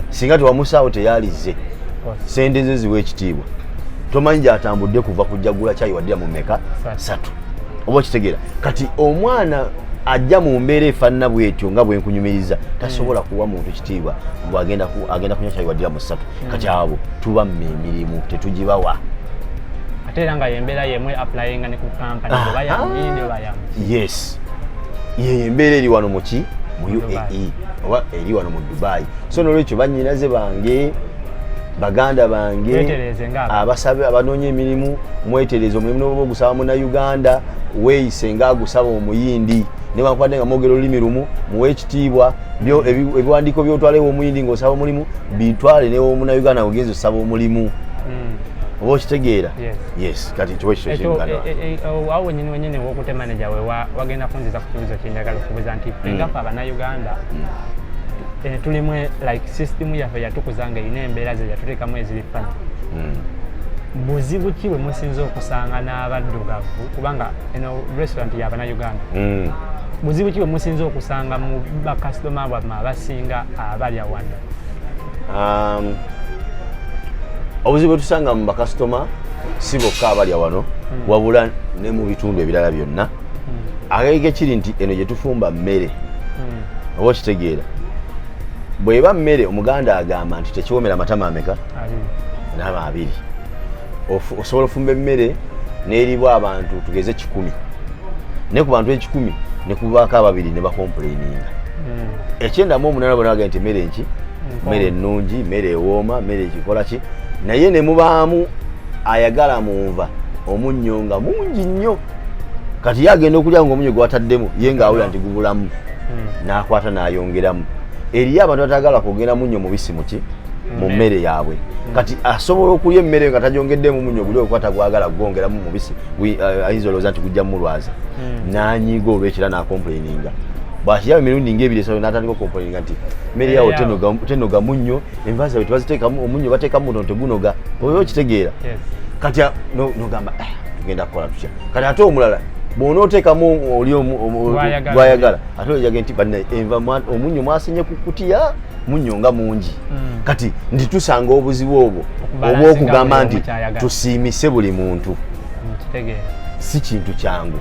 singa tewamusaawo teyalizze sente ze ziwa ekitiibwa tomanyi gyatambudde kuva kujjagula kyayi waddira mu mmeka satu oba okitegeera kati omwana ajja mu mbeera efaanana bwetyo nga bwenkunyumiriza tasobola hmm. kuwa muntu kitiibwa mbu agenda kunywa kyayi waddira mu satu hmm. kati abo tuba mu emirimu tetugibawa ate era nga yembeera yemwe applyinga ne ku kampani ah, oba yamuyindi ah. oba yamu yes yeye embeera eri wano muki mu uae oba eri wano mu dubai so nolwekyo banyinaze bange baganda bange abasabe abanoonya emirimu mwetereze omulimu noba ogusaba muna uganda weeyise nga agusaba omuyindi newankubadde nga mwogera olulimi lumu muwe ekitiibwa ebiwandiiko byotwalewo omuyindi ngaosaba omulimu bitwale newomunauganda ogenza osaba omulimu hmm. oba okitegeera yes kati kiwa ekyo kyengana eh, eh, eh, oh, awo wenyini wenyini wokute manager we wagenda kunziza ku kibuzo kyenjagala okubuza nti mm. engafa abanauganda mm. tulimu like system yaffe yatukuza nga erina embeera ze yatuteekamu eziri fana mm. buzibu ki bwe musinza okusanga n'abaddugavu kubanga eno restaurant yabanauganda buzibu ki bwe musinza okusanga mu bakasitoma bwammwe abasinga abalya wano Um, obuzibu tusanga mu bakasitoma si bokka abalya wano hmm. wabula ne mu bitundu ebirala byonna hmm. agege kiri nti eno gye tufumba mmere hmm. oba okitegeera bweba mmere omuganda agamba nti tekiwomera matama ameka naama abiri osobola ofumba emmere n'eribwa abantu tugeze kikumi naye ku bantu ekikumi ne kubaako ababiri ne bakompuleininga hmm. ekyendamu omunana bona bagenda nti emmere nki mmere hmm. ennungi mmere ewooma mmere ekikola ki naye ne mubaamu ayagala mu nva omunnyo nga mungi nnyo kati ye agenda okulya nga omunnyo gwataddemu ye ng'awulira nti gubulamu hmm. n'akwata n'ayongeramu eriyo abantu batagala kwogera munnyo mubisi muki mu mmere yaabwe kati asobola okulya emmere nga tajongeddemu munnyo guli okwata gwagala kugongeramu mubisi uh, ayinza olowooza nti gujja mulwaza hmm. nanyiiga olwekira nakomplaininga bwakiraba emirundi ngaebiri esayo natandika okomplaininga nti mmere yawo tenoga munnyo enva zawe tebaziteekamu omunnyo bateekamu mutono tegunoga oba okitegeera kati nogamba eh, tugenda kukola tutya kati ate omulala bwonoteekamu oli gwayagala ate oyage nti banna enva omunnyo mwasinye ku kutiya munyo nga mungi mm. kati ndi tusanga obuzibu obwo obwokugamba nti tusiimise buli muntu mm, si kintu kyangu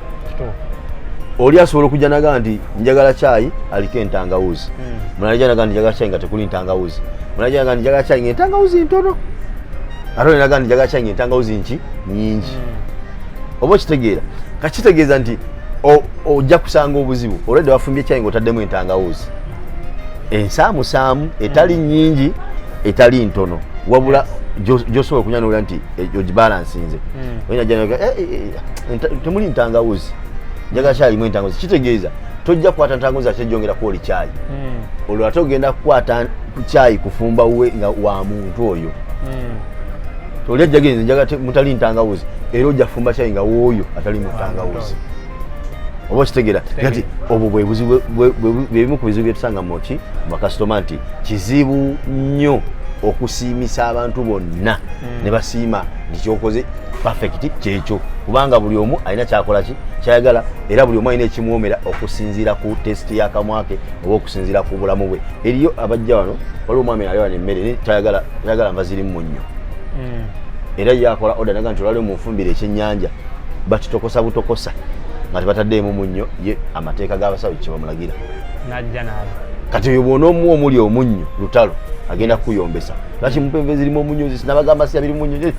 oli asobola okujja naga nti njagala kyayi aliko entangawuzi mm. munaja naga nti njagala kyayi nga tekuli ntangawuzi munaja naga nti njagala kyayi nga entangawuzi ntono ate oli naga nti njagala kyayi nga entangawuzi nki nyingi mm. oba okitegeera kakitegeeza nti ojja kusanga obuzibu olwedde wafumbye ekyayi ngaotaddemu entangawuuzi ensaamusaamu etali mm. nyingi etali ntono wabula gyosobola okunyanula nti eh, ogibalansinze mm. eh, eh, temuli ntangawuzi njagala kyalimu entangawuzi kitegeeza tojja kukwata ntangawuzi ate jongera kwoli kyayi mm. olwo ate ogenda kukwata kyayi kufumba we nga wa muntu oyo toli ajjagenze njaga mutali ntangawuzi era ojja fumba kyayi nga wooyo atali mutangawuzi oba okitegera kati obwo bwebimu ku bizibu byetusanga muki mubakasitoma nti kizibu nnyo okusiimisa abantu bonna hmm. ne basiima nti kyokoze perfect kyekyo kubanga buli omu alina kyakola ki kyayagala era buli omu alina ekimwomera okusinziira ku testi yakamwake oba okusinziira ku bulamu bwe eriyo abajja wano waliwo omwami alewano emmere tayagala oyagala nva zirimu munnyo mm. era ye akola oda naga nti olwaliwo munfumbire ekyennyanja bakitokosa butokosa nga tebataddeemu munnyo ye amateeka g'abasawo kyebamulagira najja naabo kati oyo bwona omu omuli omunnyo lutalo agenda kukuyombesa lwaki mupa enva ezirimu omunnyo zisi nabagamba siya biri munnyo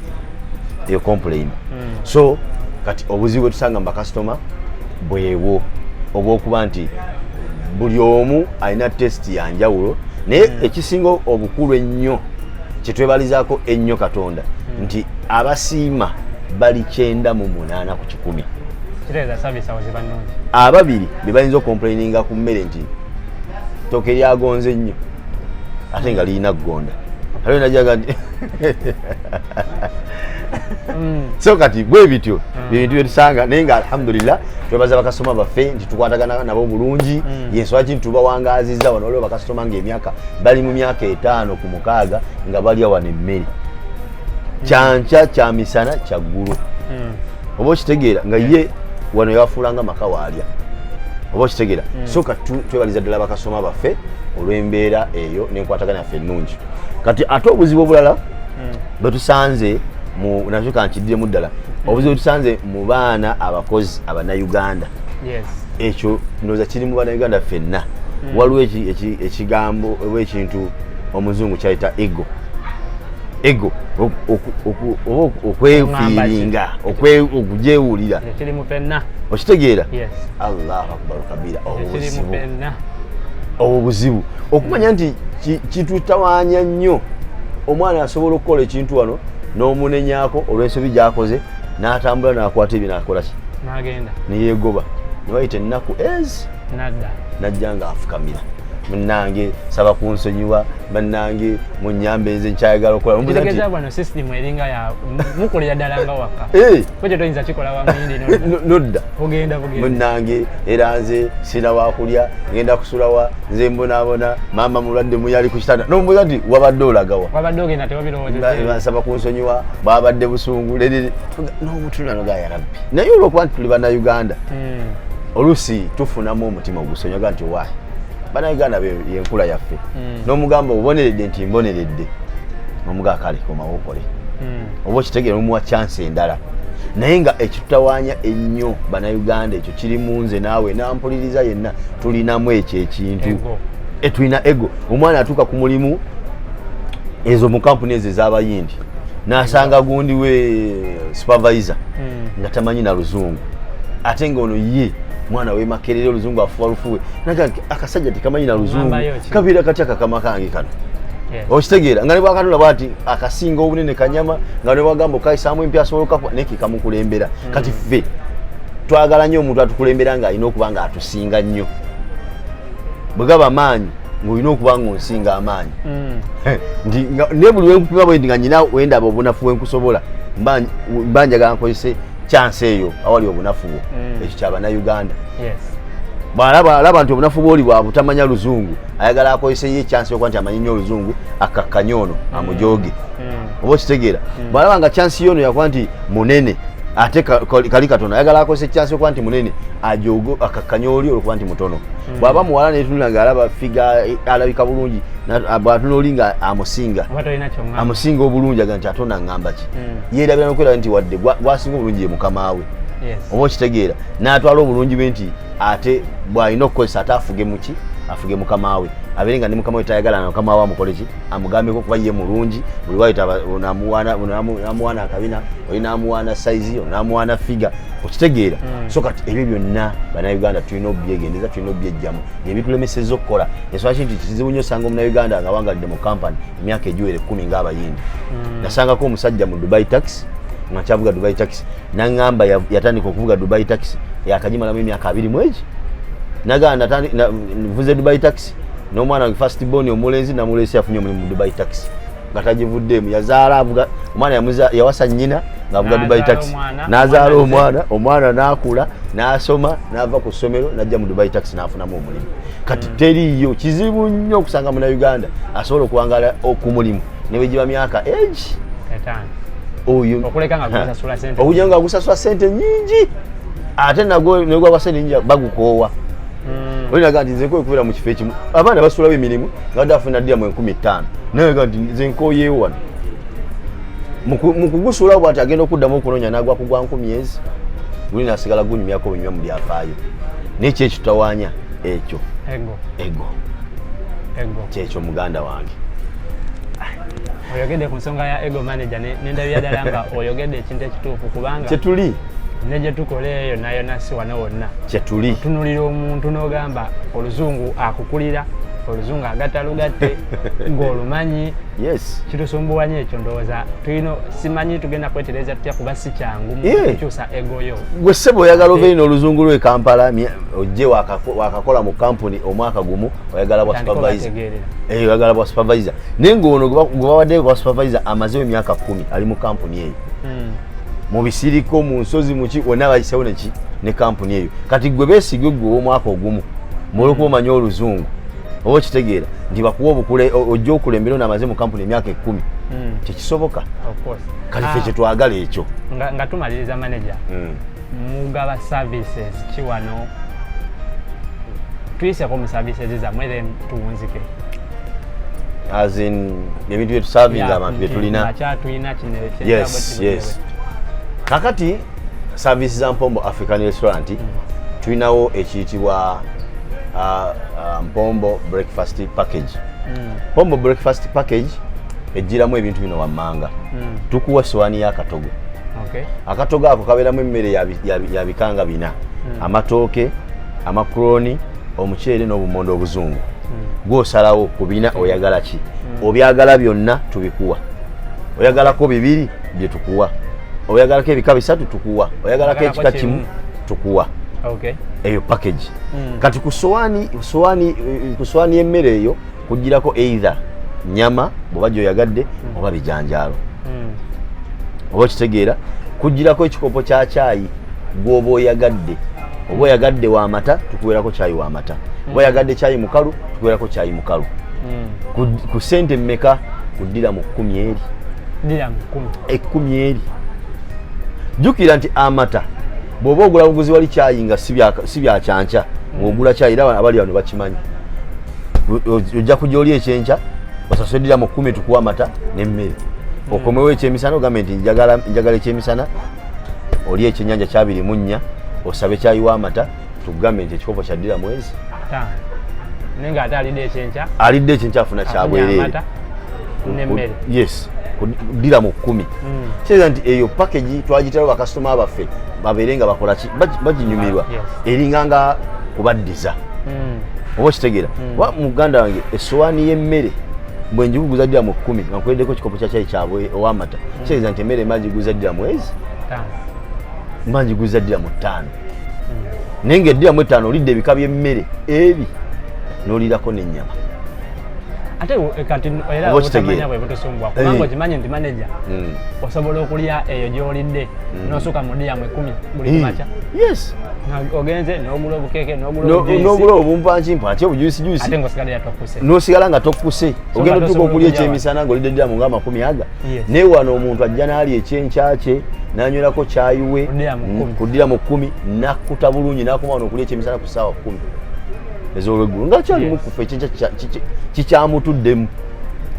eyo complain mm. so kati obuzibu bwetusanga mu bakasitoma bwewo obwokuba nti buli omu alina test ya njawulo naye hmm. ekisinga obukulu ennyo kyetwebalizaako ennyo katonda hmm. nti abasiima bali kyenda mu munaana ku kikumi ababiri bebayinza okomplaininga ku mmere nti toke lyagonze nnyo ate nga lirina kugonda aliwo najaga nti mm. so kati bwe bityo mm. byebintu byetusanga naye nga alhamdulillah twebaza bakasitoma baffe nti tukwatagana nabo bulungi mm. yensonga ki ntubawangaziza wano waliwo bakasitoma ngaemyaka bali mu myaka etaano ku mukaaga nga balya wano emmere kyankya kyamisana kyaggulu oba okitegeera nga ye wano yawafuulanga maka waalya oba okitegeera hmm. soka twebaliza ddala bakasoma baffe olw'embeera eyo n'enkwatagana yaffe ennungi kati ate obuzibu obulala hmm. bwetusanze nakyo kankiddemu ddala hmm. obuzibu bwetusanze mu baana abakozi abanauganda ekyo ndowooza kiri mu banauganda ffenna waliwo ekigambo oba ekintu omuzungu kyayita ego ego okwefiiringa okugyewulira okitegeera allahu akbar kabira obuzibu obwo buzibu okumanya nti kitutawanya nnyo omwana asobola okukola ekintu wano n'omunenyako olw'ensobi gyakoze n'atambula n'akwata ebyo nakolaki neyegoba nebayita ennaku ezi nadda najja nga afukamira munange saba kunsonyiwa banange munyambe nze nkyayagala okolategeza bwano system eringa ya mukolera ddala nga waka eh. kwejo toyinza kikola wamuyindi nodda ogenda bugenda munange era nze sina wakulya ngenda kusulawa nze mbonaabona maama mulwadde muyali ku kitanda nombuza nti wabadde olagawa wabadde ogenda tewabirowozansaba kunsonyiwa bwabadde busungu lere n'omutunanoga yarabbi naye olwokuba nti tuli banauganda hmm. oluusi tufunamu omutima ogusonyaga nti wa banauganda yenkula yaffe hmm. nomugamba oboneredde nti mboneredde nomugaa kale komawokole hmm. oba okitegere omuwa chansi endala naye nga ekitutawanya ennyo banauganda ekyo kiri mu nze naawe nampuliriza yenna tulinamu ekyo ekintu etulina ego omwana atuuka ku mulimu ezo mu kampuni ezo ezabayindi nasanga gundi we supervisor hmm. nga tamanyi na luzungu ate nga ono ye mwana we makerere oluzungu afuwa lufuwe naga akasajja tekamanyi na luzungu kabeera katya kakama kange kano okitegeera nga nebwakatula bwati akasinga obunene kanyama nga nebwagamba okukayisaamu empya asobola okukakwa naye kekamukulembera mm. kati ffe twagala nnyo omuntu atukulembera nga alina okuba nga atusinga nnyo bwe gaba maanyi ng'olina okuba nga onsinga amaanyi mm. nti ne buli wenkupima bwendi nga nyina wendaba obunafu wenkusobola mba njagala nkozese chance eyo awali obunafu bwo mm. ekyo kyaba na uganda bwalaba alaba nti obunafu bwoli bwa butamanya luzungu ayagala akozese ye chance yokuba nti amanyi nyo oluzungu akakkanye ono mm. amujooge mm. oba okitegeera bwalaba nga chance yono yakuba nti munene ate kali katono ayagala akozese chance yokuba nti munene ajogo akakkanye oli olwokuba nti mutono bwaba muwala netunula nga alaba figa alabika bulungi bwatunoli nga amusinga amusinga obulungi aga nti ate onangamba ki hmm. yeerabira nokwera nti wadde gwasinga obulungi ye mukama we oba okitegeera n'atwala obulungi bwe nti ate bw'alina okukozesa ate afuge muki afuge mukama we abeere nga ne mukama we tayagala na mukama we amukoleki amugambeko kuba ye mulungi buli wayitamuwaana akabina oli namuwaana saizi oli namuwaana figa okitegeera hmm. so kati ebyo byonna banauganda tulina obyegendeza tulina obyejjamu nebitulemeseza okukola eswaki nti kizibu nyo osanga omunauganda nga wangalidde mu kampani emyaka egiwera ekkumi ng'abayindi mm. nasangako omusajja mu dubai taxi nakyavuga dubai taxi naŋamba yatandika okuvuga dubai taxi yakagimalamu emyaka abiri mwegi naganavuze dubai taxi n'omwana wange fast bon omulenzi namuleesi afunye omulimu mu dubai taxi nga tagivuddeemu yazaala avuga omwana yawasa nyina ngaavuga dubai taxi nazaala omwana omwana nakula nasoma nava ku ssomero najja mu dubai taxi nafunamu omulimu kati mm. teriiyo kizibu nnyo okusanga muna uganda asobola okuwangala okumulimu newegiba myaka age oyo okuja nga agusasula sente nyingi ate nagwo negwagwa sente nyingi bagukoowa mm. olinaga nti nze nkoye okubeera mu kifo ekimu abaana basulawo emirimu nga badde afuna diramu enkumi ttaano nayega nti nze nkoyewo wano mukugusulawo bwati agenda okuddamu okunoonya nagwa kugwa nkumi ezi guli nasigala gunyumyako bunyuma mu byafaayo nekyo ekitutawanya ekyo ego ego ego kyekyo muganda wange oyogedde ku nsonga ya ego manager nendabira ddala nga oyogedde ekintu ekituufu kubanga kyetuli ne gye tukola eyo nayo nasi wano wonna kyetuli tunulira omuntu n'ogamba oluzungu akukulira oluzungu agatta lugatte ng'olumanyi yes kitusumbuwa nyo ekyo ndowooza tulina simanyi tugenda kwetereza tutya kuba si kyangu mukukyusa eh! gwe sebo oyagala obeere eh. n'oluzungu lwe kampala ojje wakakola mu kampuni omwaka gumu oyagala bwa supervisor eh, oyagala bwa supervisor naye ngaono gwebawaddeyo bwa supervisor amazewo emyaka kumi ali mu kampuni eyo hmm. mu bisiriko mu nsozi muki wonna bayisewo neki ne kampuni eyo kati gwe besigwe gwe ow'omwaka ogumu mulwokuba hmm. omanya oluzungu oba okitegeera nti bakuwa obukule ojja okulembera ono amaze mu kampuni emyaka ekumi hmm. tekisoboka kale fe ah. kyetwagala ekyo nga tumaliriza manaja hmm. mugaba services ki wano tuyiseko mu services zamwe then tuwunzike as in ebintu byetusavinga abantu byetulina yes yes kakati service za mpombo african restaurant mm. tulinawo ekiyitibwa uh, uh, mpombo breakfast package mm. mpombo breakfast package ejjiramu ebintu bino wammanga hmm. tukuwa sowaani y'akatogo akatogo ako kabeeramu emmere ya bikanga bina hmm. amatooke amakuroni omuceere n'obumondo obuzungu hmm. gwosalawo ku bina oyagala ki obyagala byonna tubikuwa oyagalako bibiri bye tukuwa oyagalako ebika bisatu tukuwa oyagalako ekika kimu tukuwa eyo package kati ku sowaani y'emmere eyo kujjirako either nyama bwoba gyoyagadde hmm. oba bijanjaalo hmm. oba okitegeera kujjirako ekikopo kya kyayi gwoba oyagadde oba oyagadde wamata tukuwerako kyayi wamata oba oyagadde kyayi mukalu tukuwerako kyayi mukalu ku sente mmeka kuddira mu kkumi eri ekkumi eri jjukira nti amata bw'oba ogula buguzi wali kyayi nga si byakyankya ng'ogula kyayi era abali bano bakimanyi ojja kujja oli ekyenkya osasulidira mu kkumi tukuwa amata n'emmere hmm. okomewo ekyemisana ogambe nti njagala ekyemisana oli ekyenyanja kyabiri mu nnya osabe kyayiwa amata tugambe nti ekikopo kyaddira mwezi alidde ekyenkya afuna kyabwerere yes dira mu kkumi hmm. kitegeeza nti eyo package twagiterawo bakasitoma baffe babeere nga bakola ki baginyumirwa eringa nga kubaddiza hmm. oba okitegeera kuba hmm. muganda wange essowaani y'emmere bwe njiguguza ddira mu kkumi nga nkuweddeko ekikopo kya kyayi kyabwe ow'amata hmm. kitegeeza nti emmere mba njiguza ddira mwezi mba njiguza ddira mu ttaano naye nga eddira mu ettaano olidde ebika by'emmere ebi n'olirako n'ennyama ate eh, kati era obutamanya bwe butusumbwa kubanga eh. okimanyi nti maneja hmm. osobola okulya eyo gy'olidde hmm. n'osuka mu diyamu ekumi buli eh. makya yes ogenze n'ogula obukeeke n'ogula obumpankimpwa ati obujuyisijuisi n'osigala nga tokkuse ogenda otuuka okulya ekyemisana ng'olidde diyamu ng'amakumi aga naye wano omuntu ajja n'ali ekyenkyakye n'anywerako kyayiwe ku diyamu kkumi n'akkuta bulungi n'akoma wano okulya ekyemisana ku ssaawa kkumi ezolweggulo nga kyali yes. mukufa ekyenkya kikyamutuddemu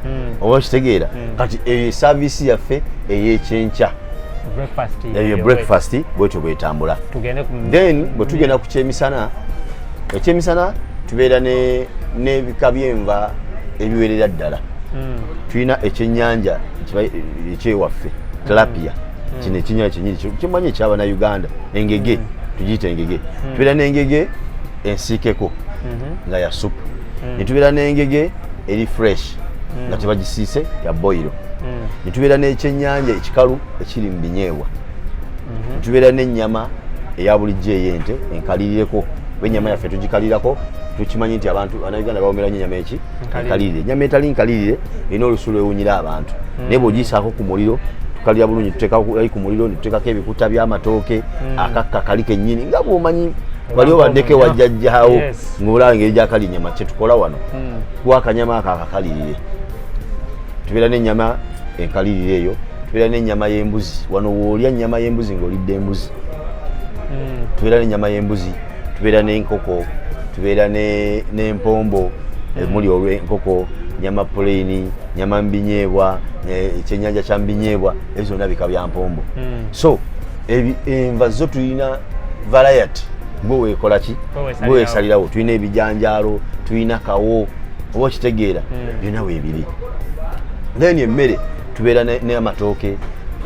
mm. oba kitegeera mm. kati eyo eh, esaviisi yaffe eyekyenkya eyo breakfast bwetyo bwetambula then bwe tugenda ku kyemisana ekyemisana tubeera n'ebika byenva ebiwerera ddala hmm. tulina ekyenyanja ekyewaffe hmm. tilapia hmm. kino ekinyanya kyenyini kimanyi ekyabana uganda engege tugiyita engege tubeera n'engege ensiikeko mhm. nga ya supu mm. netubeera n'engege eri fresh mm. nga tebagisiise ya boyiro mm. netubeera n'ekyenyanja ekikalu ekiri mu binyeebwa mhm. netubeera n'ennyama eya bulijjo ey'ente enkalirireko oba ennyama yaffe tugikalirako tukimanyi nti abantu banauganda bawomera nyo enyama eki enkalirire enyama etali nkalirire erina olusu lwewunyira abantu naye bweogiyisaako ku muliro tukalira bulungi tuteekali ku muliro netuteekako ebikuta by'amatooke akakka kali kennyini nga bwomanyi wali obaddeko ewa jjajjaawo ngaolaba engeri gyakali nyama kyetukola wano hmm. kuwa akanyama ako akakalirire tubeera n'ennyama enkalirire eyo tubeera n'ennyama y'embuzi wano woolya nnyama y'embuzi ng'olidde embuzi hmm. tubeera n'ennyama y'embuzi tubeera n'enkoko tubeera n'empombo hmm. emuli olw'enkoko nyama puleyini nyama mbinyeebwa ekyennyanja kya mbinyeebwa ezo zonna bika bya mpombo so enva zo tulina variety gwe weekola ki gwe weesalirawo tulina ebijanjaalo tulina kawo oba okitegeera hmm. byonna weebiri then emmere tubeera n'amatooke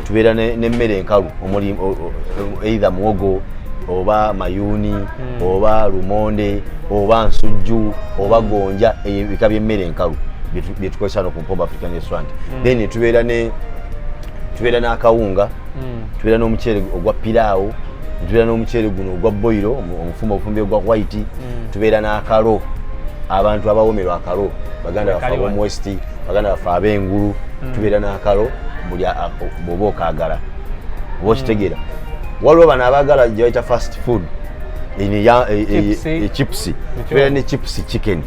tubeera n'emmere enkalu omuli eitha muwogo oba mayuuni hmm. oba lumonde oba nsujju oba gonja ebika by'emmere enkalu byetukozesa no ku mpoba african restaurant hmm. then tubeera ne tubeera n'akawunga hmm. tubeera n'omuceere ogwa piraawo tubeera n'omuceere guno ogwa boyiro omufumba obufumbi ogwa white hmm. tubeera n'akalo abantu abawomerwa akalo baganda bafe abomwest baganda bafe ab'engulu hmm. tubeera n'akalo buli bwoba okagala oba okitegeera waliwo bano abaagala gyebayita fast food echipusi tubeera ne chipusi chicken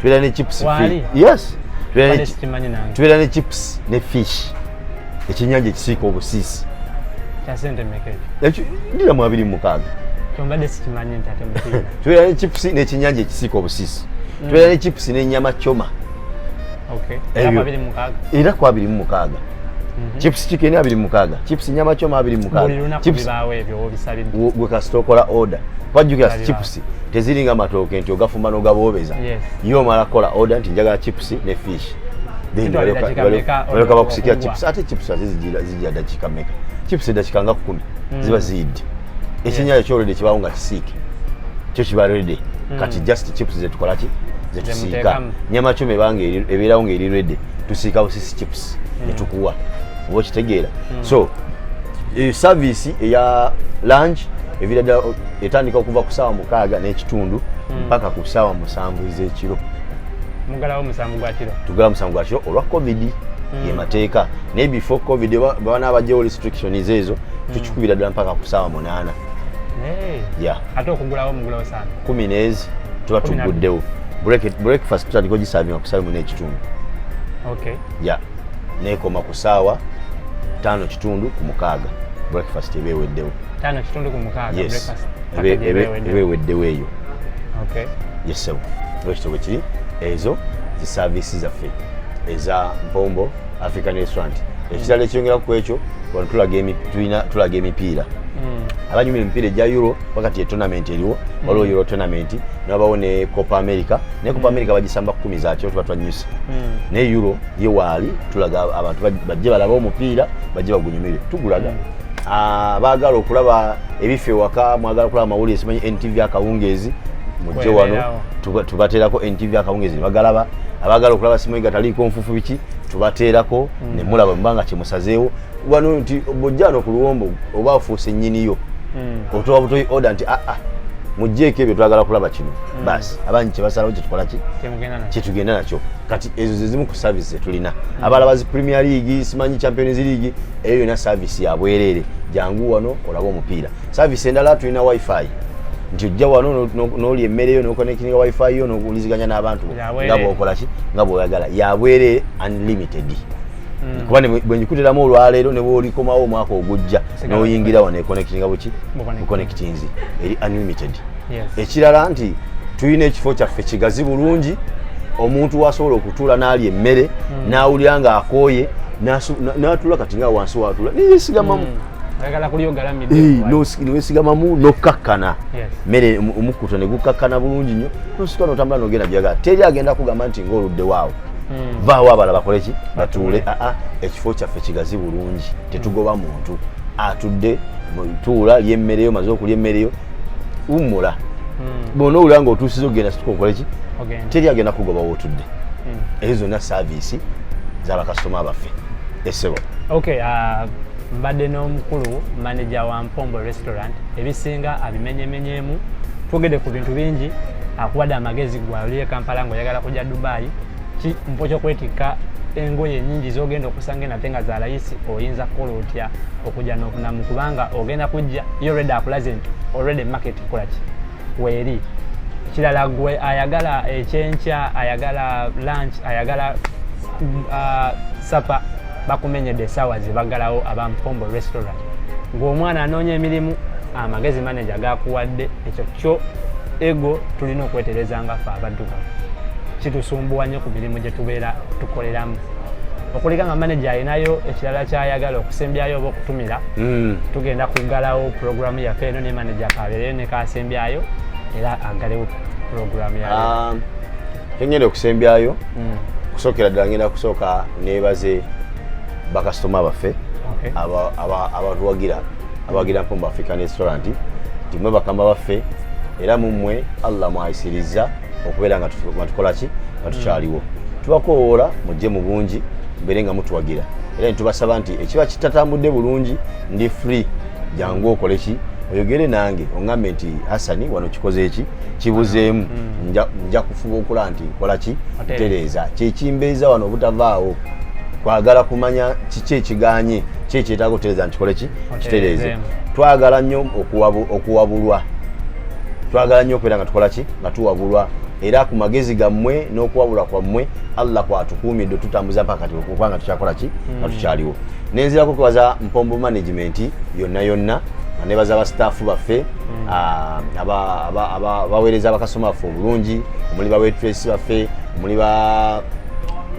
tubeera ne chipusi yes tubeera ne chips ne fish ekyenyanja ekisiika obusiisi dira mu abiri mumukaaga tubeera ne chips n'ekyenyanja ekisiika obusiisi mm. tubeera ne chips n'enyama coma era ku abiri mumukaaga mhm. chips chicken abiri mukaaga chips nyama choma abiri mukaaga chips gwe kasita okola order kwajjukira chips teziringa matooke nti ogafumba n'ogaboobeza ye omala kola oda nti njagala chips ne fish balyoka bakusikira chips ate chips ate zijja dakika meka chips edakika nga kumi mm. ziba ziyidde ekyenyayo kyolede kibawo nga kisiike kyo kiba rede mm. kati just chips zetukolaki zetusiika nyama choma ebanga ebeerawo nga eri rede tusiika busisi chips mm. netukuwa oba okitegeera so eh, service eya lunch eviira ddala etandika okuva ku saawa mukaaga n'ekitundu hmm. mpaka ku saawa musanvu ez'ekiro mugalawo musanvu gwa kiro tugala musanvu gwa kiro olwa covid hmm. yemateeka naye before covid babana abajjawo restrictions ezo hmm. tukikubira ddala mpaka ku saawa munaana ate okugulawo mugulawo sana kumi neezi tuba tuguddewo breakfast tutandika ogisaavinga ku saawa mu n'ekitundu ya neekoma ku saawa ttaano kitundu ku mukaaga breakfast eba eweddewo tano kitundu ku mukaaga yes ebeweddewo eyo okay yesebo ekitabo kiri ezo zi service zaffe eza mpombo african restaurant ekirala ekyongera ku ekyo wano tulaga emipiira hmm. abanyumira emipiira egya euro wakati etonament eriwo hmm. waliwo euro tonament nabawo ne copa america naye copa hmm. america bagisamba kumi zakyo tuba twanyusa naye euro ye waali tulaga abantu bajje balabe omupiira bajje bagunyumire tugulaga Ah, baagala okulaba ebifo ewaka mwagala okulaba amawulire simanyi ntv akawungeezi mujje wano tubateerako ntv akawungeezi nebagalaba abaagala okulaba simanyi gataliiko nfufu biki tubateerako mm. nemulaba mubanga kyemusazeewo wano nti bojjano ku luwombo oba afuuse nyiniyo mm. otowa butoyi oda nti aa ah, ah, mujjeeko ebyo twagala kulaba kino mm. basi abangi kyebasalawo kyetukola ki kyetugenda nakyo kati ezo zezimu ku service zetulina abalaba zi premier league simanyi champions league eyo yona service ya bwerere jangu wano olaba omupiira service endala tulina wifi nti ojja wano noli emmere yo nokonekininga wifi yo nokuliziganya n'abantu nga bwokolaki nga bwoyagala ya bwerere unlimited hmm. kuba bwenyikuteramu olwaleero nebwolikomawo omwaka ogujja noyingira wano ekonektinga buki bukonektinzi eri unlimited ekirala nti tulina ekifo kyaffe kigazi bulungi omuntu wasobola okutuula n'alya emmere hmm. n'awulira ng'akooye n'atuula kati nga wansi watuula neyesigamamu newesigamamu hmm. eh, nokkakkana mmere omukkuto ne gukkakkana bulungi nnyo nosika notambula nogenda byagala teri agenda kugamba nti ngaoluddewaawo hmm. vaawo abala bakoleki batuule aa ah, ah, ekifo kyaffe kigazi bulungi tetugoba muntu atudde tuula lyemmereyo maze okulya emmereyo wumula hmm. bona owulira nga otuusiza okugenda situka okola ki teri agenda kugoba wotudde hmm. ezo zonna saaviisi zabakasitoma baffe esebo okay, uh... mbadde n'omukulu manaja wa mpombo restaurant ebisinga abimenyemenyeemu twogedde ku bintu bingi akuwadde amagezi gwe ali e kampala ngaoyagala kujja dubayi ki mpo kyokwetikka engoye nyingi zogenda okusanga enate nga zalayisi oyinza kukola otya okujja nokunamu kubanga ogenda kujja yo redi akulaze nti olredi market kolaki weeri kirala gwe ayagala ekyenkya ayagala lunch ayagala uh, supper bakumenyedde essaawa zebagalawo aba mpombo restaurant ng'omwana anoonya emirimu amagezi manaja gakuwadde ekyo kyo ego tulina okwetereza nga fe abadduka kitusumbuwa nnyo ku mirimu gye tubeera tukoleramu okulika nga manaja alinayo ekirala kyayagala okusembyayo oba okutumira hmm. tugenda kugalawo puroguramu yaffe eno ne manaja kabeereyo nekasembyayo era agalewo puroguramu yayo ah. kyenyenda okusembyayo mm. kusokera ddala ngenda kusooka nebaze bakasitoma baffe abatuwagira abawagira mpombo african restaurant nti mwe bakama baffe era mumwe allah mwayisirizza okubeera nga tukolaki nga tukyaliwo mm. tubakowoola mujje mu bungi mbeere nga mutuwagira era nitubasaba nti ekiba kitatambudde bulungi ndi free jangu okoleki oyogere nange oŋambe nti hasani wano kikoze eki kibuzeemu mm. nja kufuba okulaba nti nkola ki ntereeza kyekimbeeza wano obutavaawo kwagala kumanya kiki ekiganye ki ekyetaaga okutereeza nkikole ki kitereeze twagala nnyo okuwabulwa twagala nnyo okubeera nga tukola ki nga tuwabulwa era ku magezi gammwe n'okuwabula kwammwe allah kwatukuumidde tutambuza mpaka kati okuba nga tukyakola ki hmm. nga tukyaliwo nenzirako kubaza mpombo management yonna yonna nga nebaza ba staffu baffe mm. ah, abaweereza abakasoma baffe obulungi omuli bawetresi baffe omuli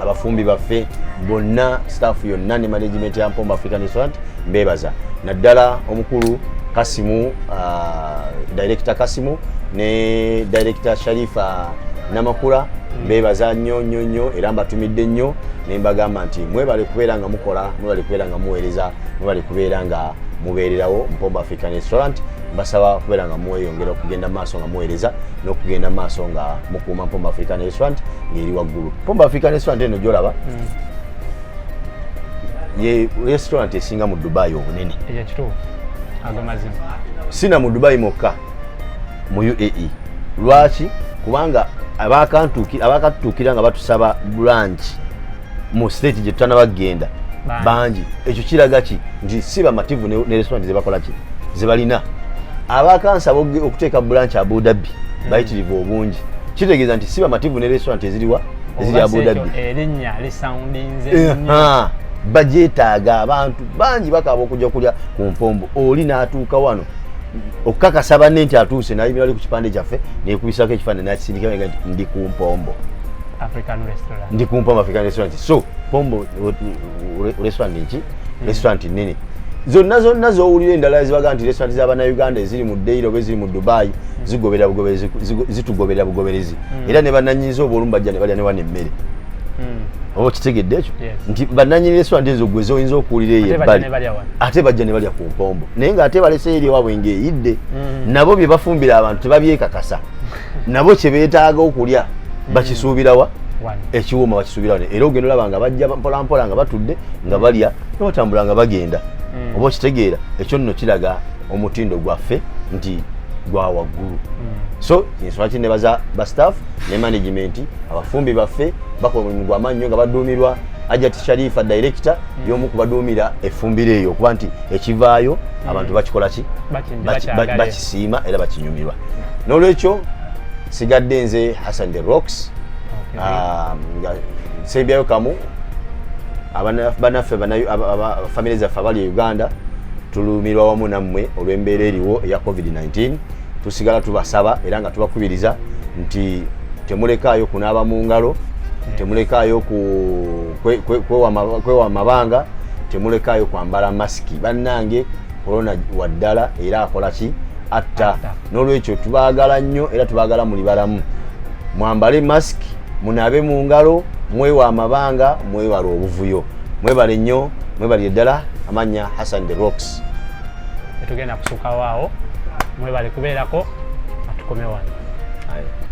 abafumbi baffe bonna staff yonna ne management ya mpomba african restaurant mbebaza naddala omukulu kasimu ah, director kasimu ne director sharifa namakula mm. mbebaza nnyo nnyo nnyo era mbatumidde nnyo nembagamba nti mwebale kubeera nga mukola mwebale kubeera nga muweereza mwebale kubeera nga mubeererawo mpombo african restaurant mbasaba kubeera nga mweyongera okugenda maaso nga muweereza n'okugenda maaso nga mukuuma mpombo african restaurant ng'eri waggulu mpombo african restaurant eno gyolaba mm. ye restaurant esinga mu dubai obunene sina mu dubai mokka mu uae lwaki kubanga abakatutuukira nga batusaba branch mu state gye tutanaba kugenda bangi ekyo kiraga ki nti si bamativu ne restaurant zebakola ki zebalina abakansa okuteeka bulanki abudabbi hmm. bayitirivu obungi kitegeeza nti si bamativu ne restaurant eziriwa eziri abudabbi bajetaaga abantu bangi bakaba okujja kulya ku mpombo oli n'atuuka wano okukakasa banne nti atuuse nayimira ali ku kipande kyaffe nekubisako ekifaanani nakisindika nti ndi ku mpombo African restaurant. Ndi kumpa African restaurant. So, pombo restaurant nchi? Mm. Restaurant nini? Zonna zonna zowulira endala zibaga nti restaurant za bana Uganda eziri mu Deiro be ziri mu Dubai mm. zigobera bugoberezi zitugobera bugoberezi. Mm. Era ne bananyinzo obolumba jane bali ne wane mmere. Mm. Obo kitegedde ekyo? Yes. Nti bananyinzo restaurant ezo gwe zoyinza okuwulira eyo bali. Ate bajja ne bali ku pombo. Naye nga ate balese eri wabwe ngeyidde. Mm. Nabo bye bafumbira abantu tebabyekakasa. nabo kye beetaaga okulya mm. bakisuubirawa ekiwuma bakisuubirawa era ogenda olaba nga bajja mpolampola nga batudde nga mm. balya nobatambula nga bagenda mm. oba okitegeera ekyo nno kiraga omutindo gwaffe nti gwa waggulu so ensonga ki nebaza ba staff ne management abafumbi baffe bakola omulimu gwamaanyi nyo nga baduumirwa ajati sharifa director yomu kubaduumira efumbiro eyo okuba nti ekivaayo hmm. abantu bakikola ki bakisiima era bakinyumirwa n'olwekyo sigadde nze hassan the rocks um, nga nsembyayo kamu banaffe famire zaffe abali e uganda tulumirwa wamu nammwe olw'embeera eriwo eya covid-19 tusigala tubasaba era nga tubakubiriza nti temulekaayo kunaaba mu ngalo temulekaayo ku kwewa amabanga temulekaayo kwambala masiki bannange korona wa ddala era akola ki atta n'olwekyo tubaagala nnyo era tubaagala muli balamu mwambale masiki munaabe mu ngalo mwewa amabanga mwewala obuvuyo mwebale nnyo mwebalire ddala amanya hassan the rocks etugenda kusukawo awo mwebale kubeerako atukomewa